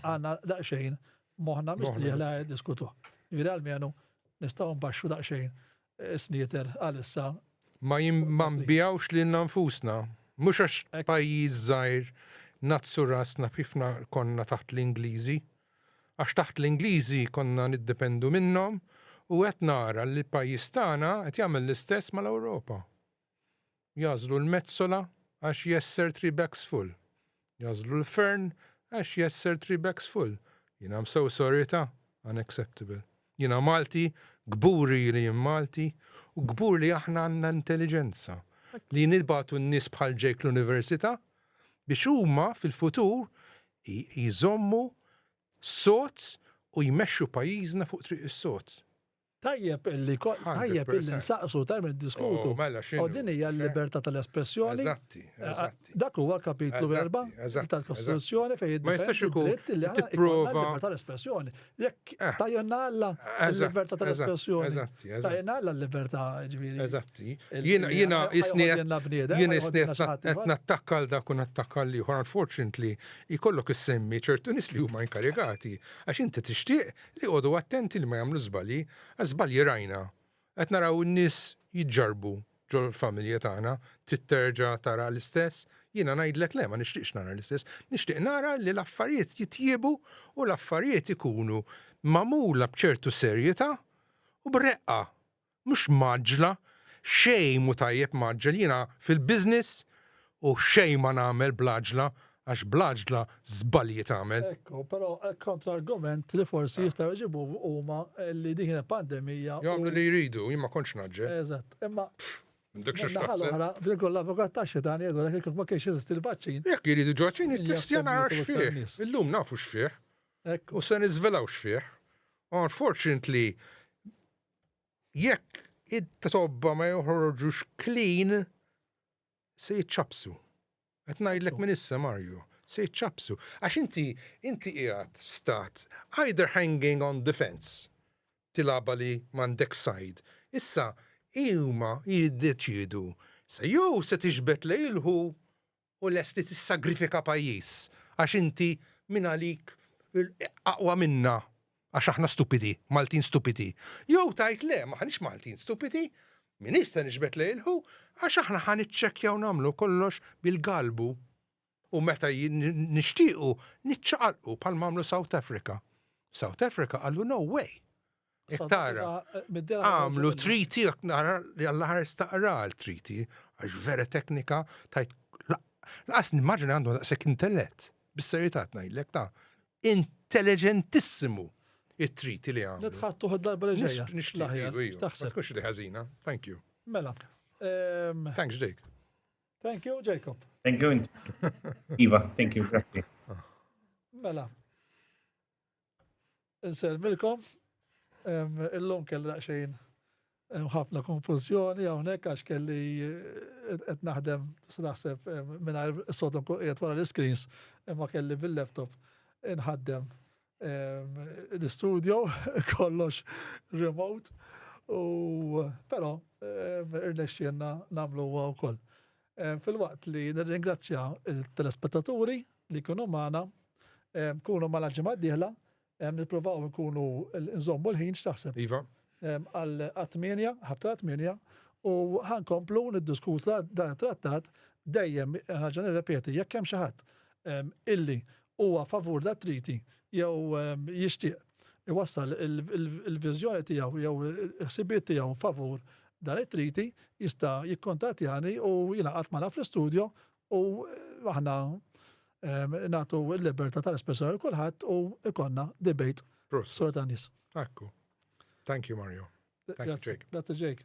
għanna daqxejn moħna mistrieħ li għed diskutu. Ġviri għal-menu nistaw nbaxxu daqxejn eh, sniter għal-issa. Ma jimbijawx li nfusna, mux għax pajjiż zaħir nazzu rasna fifna konna taħt l-Ingliżi, għax taħt l-Ingliżi konna niddependu minnom u għet nara li pajjiż tagħna qed jagħmel l-istess mal-Ewropa. Jagħżlu l-mezzola għax jesser three bags full. Jagħżlu l-fern għax jesser three bags full. Jien I'm so sorry ta', unacceptable. Jiena Malti, kburi li jien Malti, u kbur li aħna għandna intelliġenza li nibgħatu n-nies bħal Jake l-Università biex huma fil-futur jżommu sod u jmexxu pajjiżna fuq triq is-sod. Tajjeb illi tajjeb illi nsaqsu tajjeb niddiskutu. Mela xi. U din hija l-libertà tal-espressjoni. Eżatti, eżatti. Dak huwa kapitlu erba' tal-Kostituzzjoni fejn jiddependi. Ma jistax ikun tipprova. Libertà tal-espressjoni. Jekk tajna Alla l-libertà tal-espressjoni. Eżatti, eżatti. Tajna Alla l-libertà ġifieri. Eżatti. Jiena jiena isni jiena isni qed nattakka għal dak u nattakka l-ieħor unfortunately jkollok issemmi ċertu nies li huma inkarigati għax inti tixtieq L-iqogħdu attenti li ma jagħmlu żbalji għax żbalji rajna. Qed naraw in-nies jiġġarrbu ġol-familja tagħna, trid terġa' tara l-istess? Jiena ngħidlek le ma nixtieqx nara l-istess. Nixtieq nara li l-affarijiet jitjiebu u l-affarijiet ikunu magħmula b'ċertu serjeta' u b'reqqa mhux mgħaġġla, xejn mhu tajjeb mgħaġġel, jiena fil-business u xejn ma nagħmel bl-għaġla għax bl-għaġla żbalji tagħmel. Ekku, però kontrargument li forsi jistgħu jġibu huma li din kienet pandemija. Jagħmlu li jridu, jien ma kontx naġġel. Eżatt, imma Ħal-oħra, bil-kull l-avukat ta' xitan jgħidu l kif ma kienx jeżisti l-vaċċin. Jekk jridu ġoċin, il-testja nara xfieħ. Illum nafu xfieħ. U se nizvelaw xfieħ. Unfortunately, jekk it-tobba ma joħorġux clean, se jiċċapsu. Qed ngħidlek minn issa Mario, se jiċċapsu. Għax inti inti qiegħed stat either hanging on the fence tilaba li m'għandek side. Issa huma jiddeċiedu se jew se tixbet lejlħu u lest li tissagrifika pajjiż għax inti mingħalik aqwa minna għax aħna stupidi, Maltin stupidi. Jew tgħid le, m'aħniex Maltin stupidi, m'iniex se niġbed lejn il-who għax aħna ħa niċċekkjaw nagħmlu kollox bil-galbu u meta nixtiequ niċċaqalqu bħalma għamlu South Africa. South Africa qalu no way. Iktara, għamlu triti, nara li għall-ħar staqra l-triti, għax vera teknika, tajt, laqas nimmaġina għandu daqsek intellet, bis-serjetà tnajdlek ta' intelligentissimu it-triti li għamlu. Nitħattu darba li ġejja. Nixtieq, taħseb. Kux li ħażina, thank you. Mela. Ehm, Thanks, Jake. Thank you, Jacob. Thank you. Iva, thank you, grazie. Mela, Inselmilkom, illum kelli daqsxejn ħafna konfużjoni hawnhekk għax kelli eh, qed naħdem se naħseb mingħajr sodom kun qiegħed wara l-iskreens imma kelli bil-laptop inħaddem l-istudio kollox remote u però irnexxielna nagħmlu huwa wkoll. Filwaqt li nirringrazzja l-telespettaturi li jkunu magħna, kunu magħna l-ġimgħa d-dieħla, nippruvaw inkunu nżommu l-ħin x'taħseb? Iva. Għal tmienja, ħabta tmienja, u ħa nkomplu niddiskutu dan it-trattat dejjem ħaġa nirrepeti jekk hemm xi ħadd illi huwa favur l-attriti jew jixtieq iwassal il-viżjoni tiegħu jew il-ħsibiet tiegħu favur dan it-triti jista' jikkontattjani u jingħaqad magħna fl-istudjo u aħna nagħtu l-libertà tal-espressjoni l kulħadd u ikonna debate spontaneous. Akku. Thank you Mario. Thank you Jake. Grazie Jake.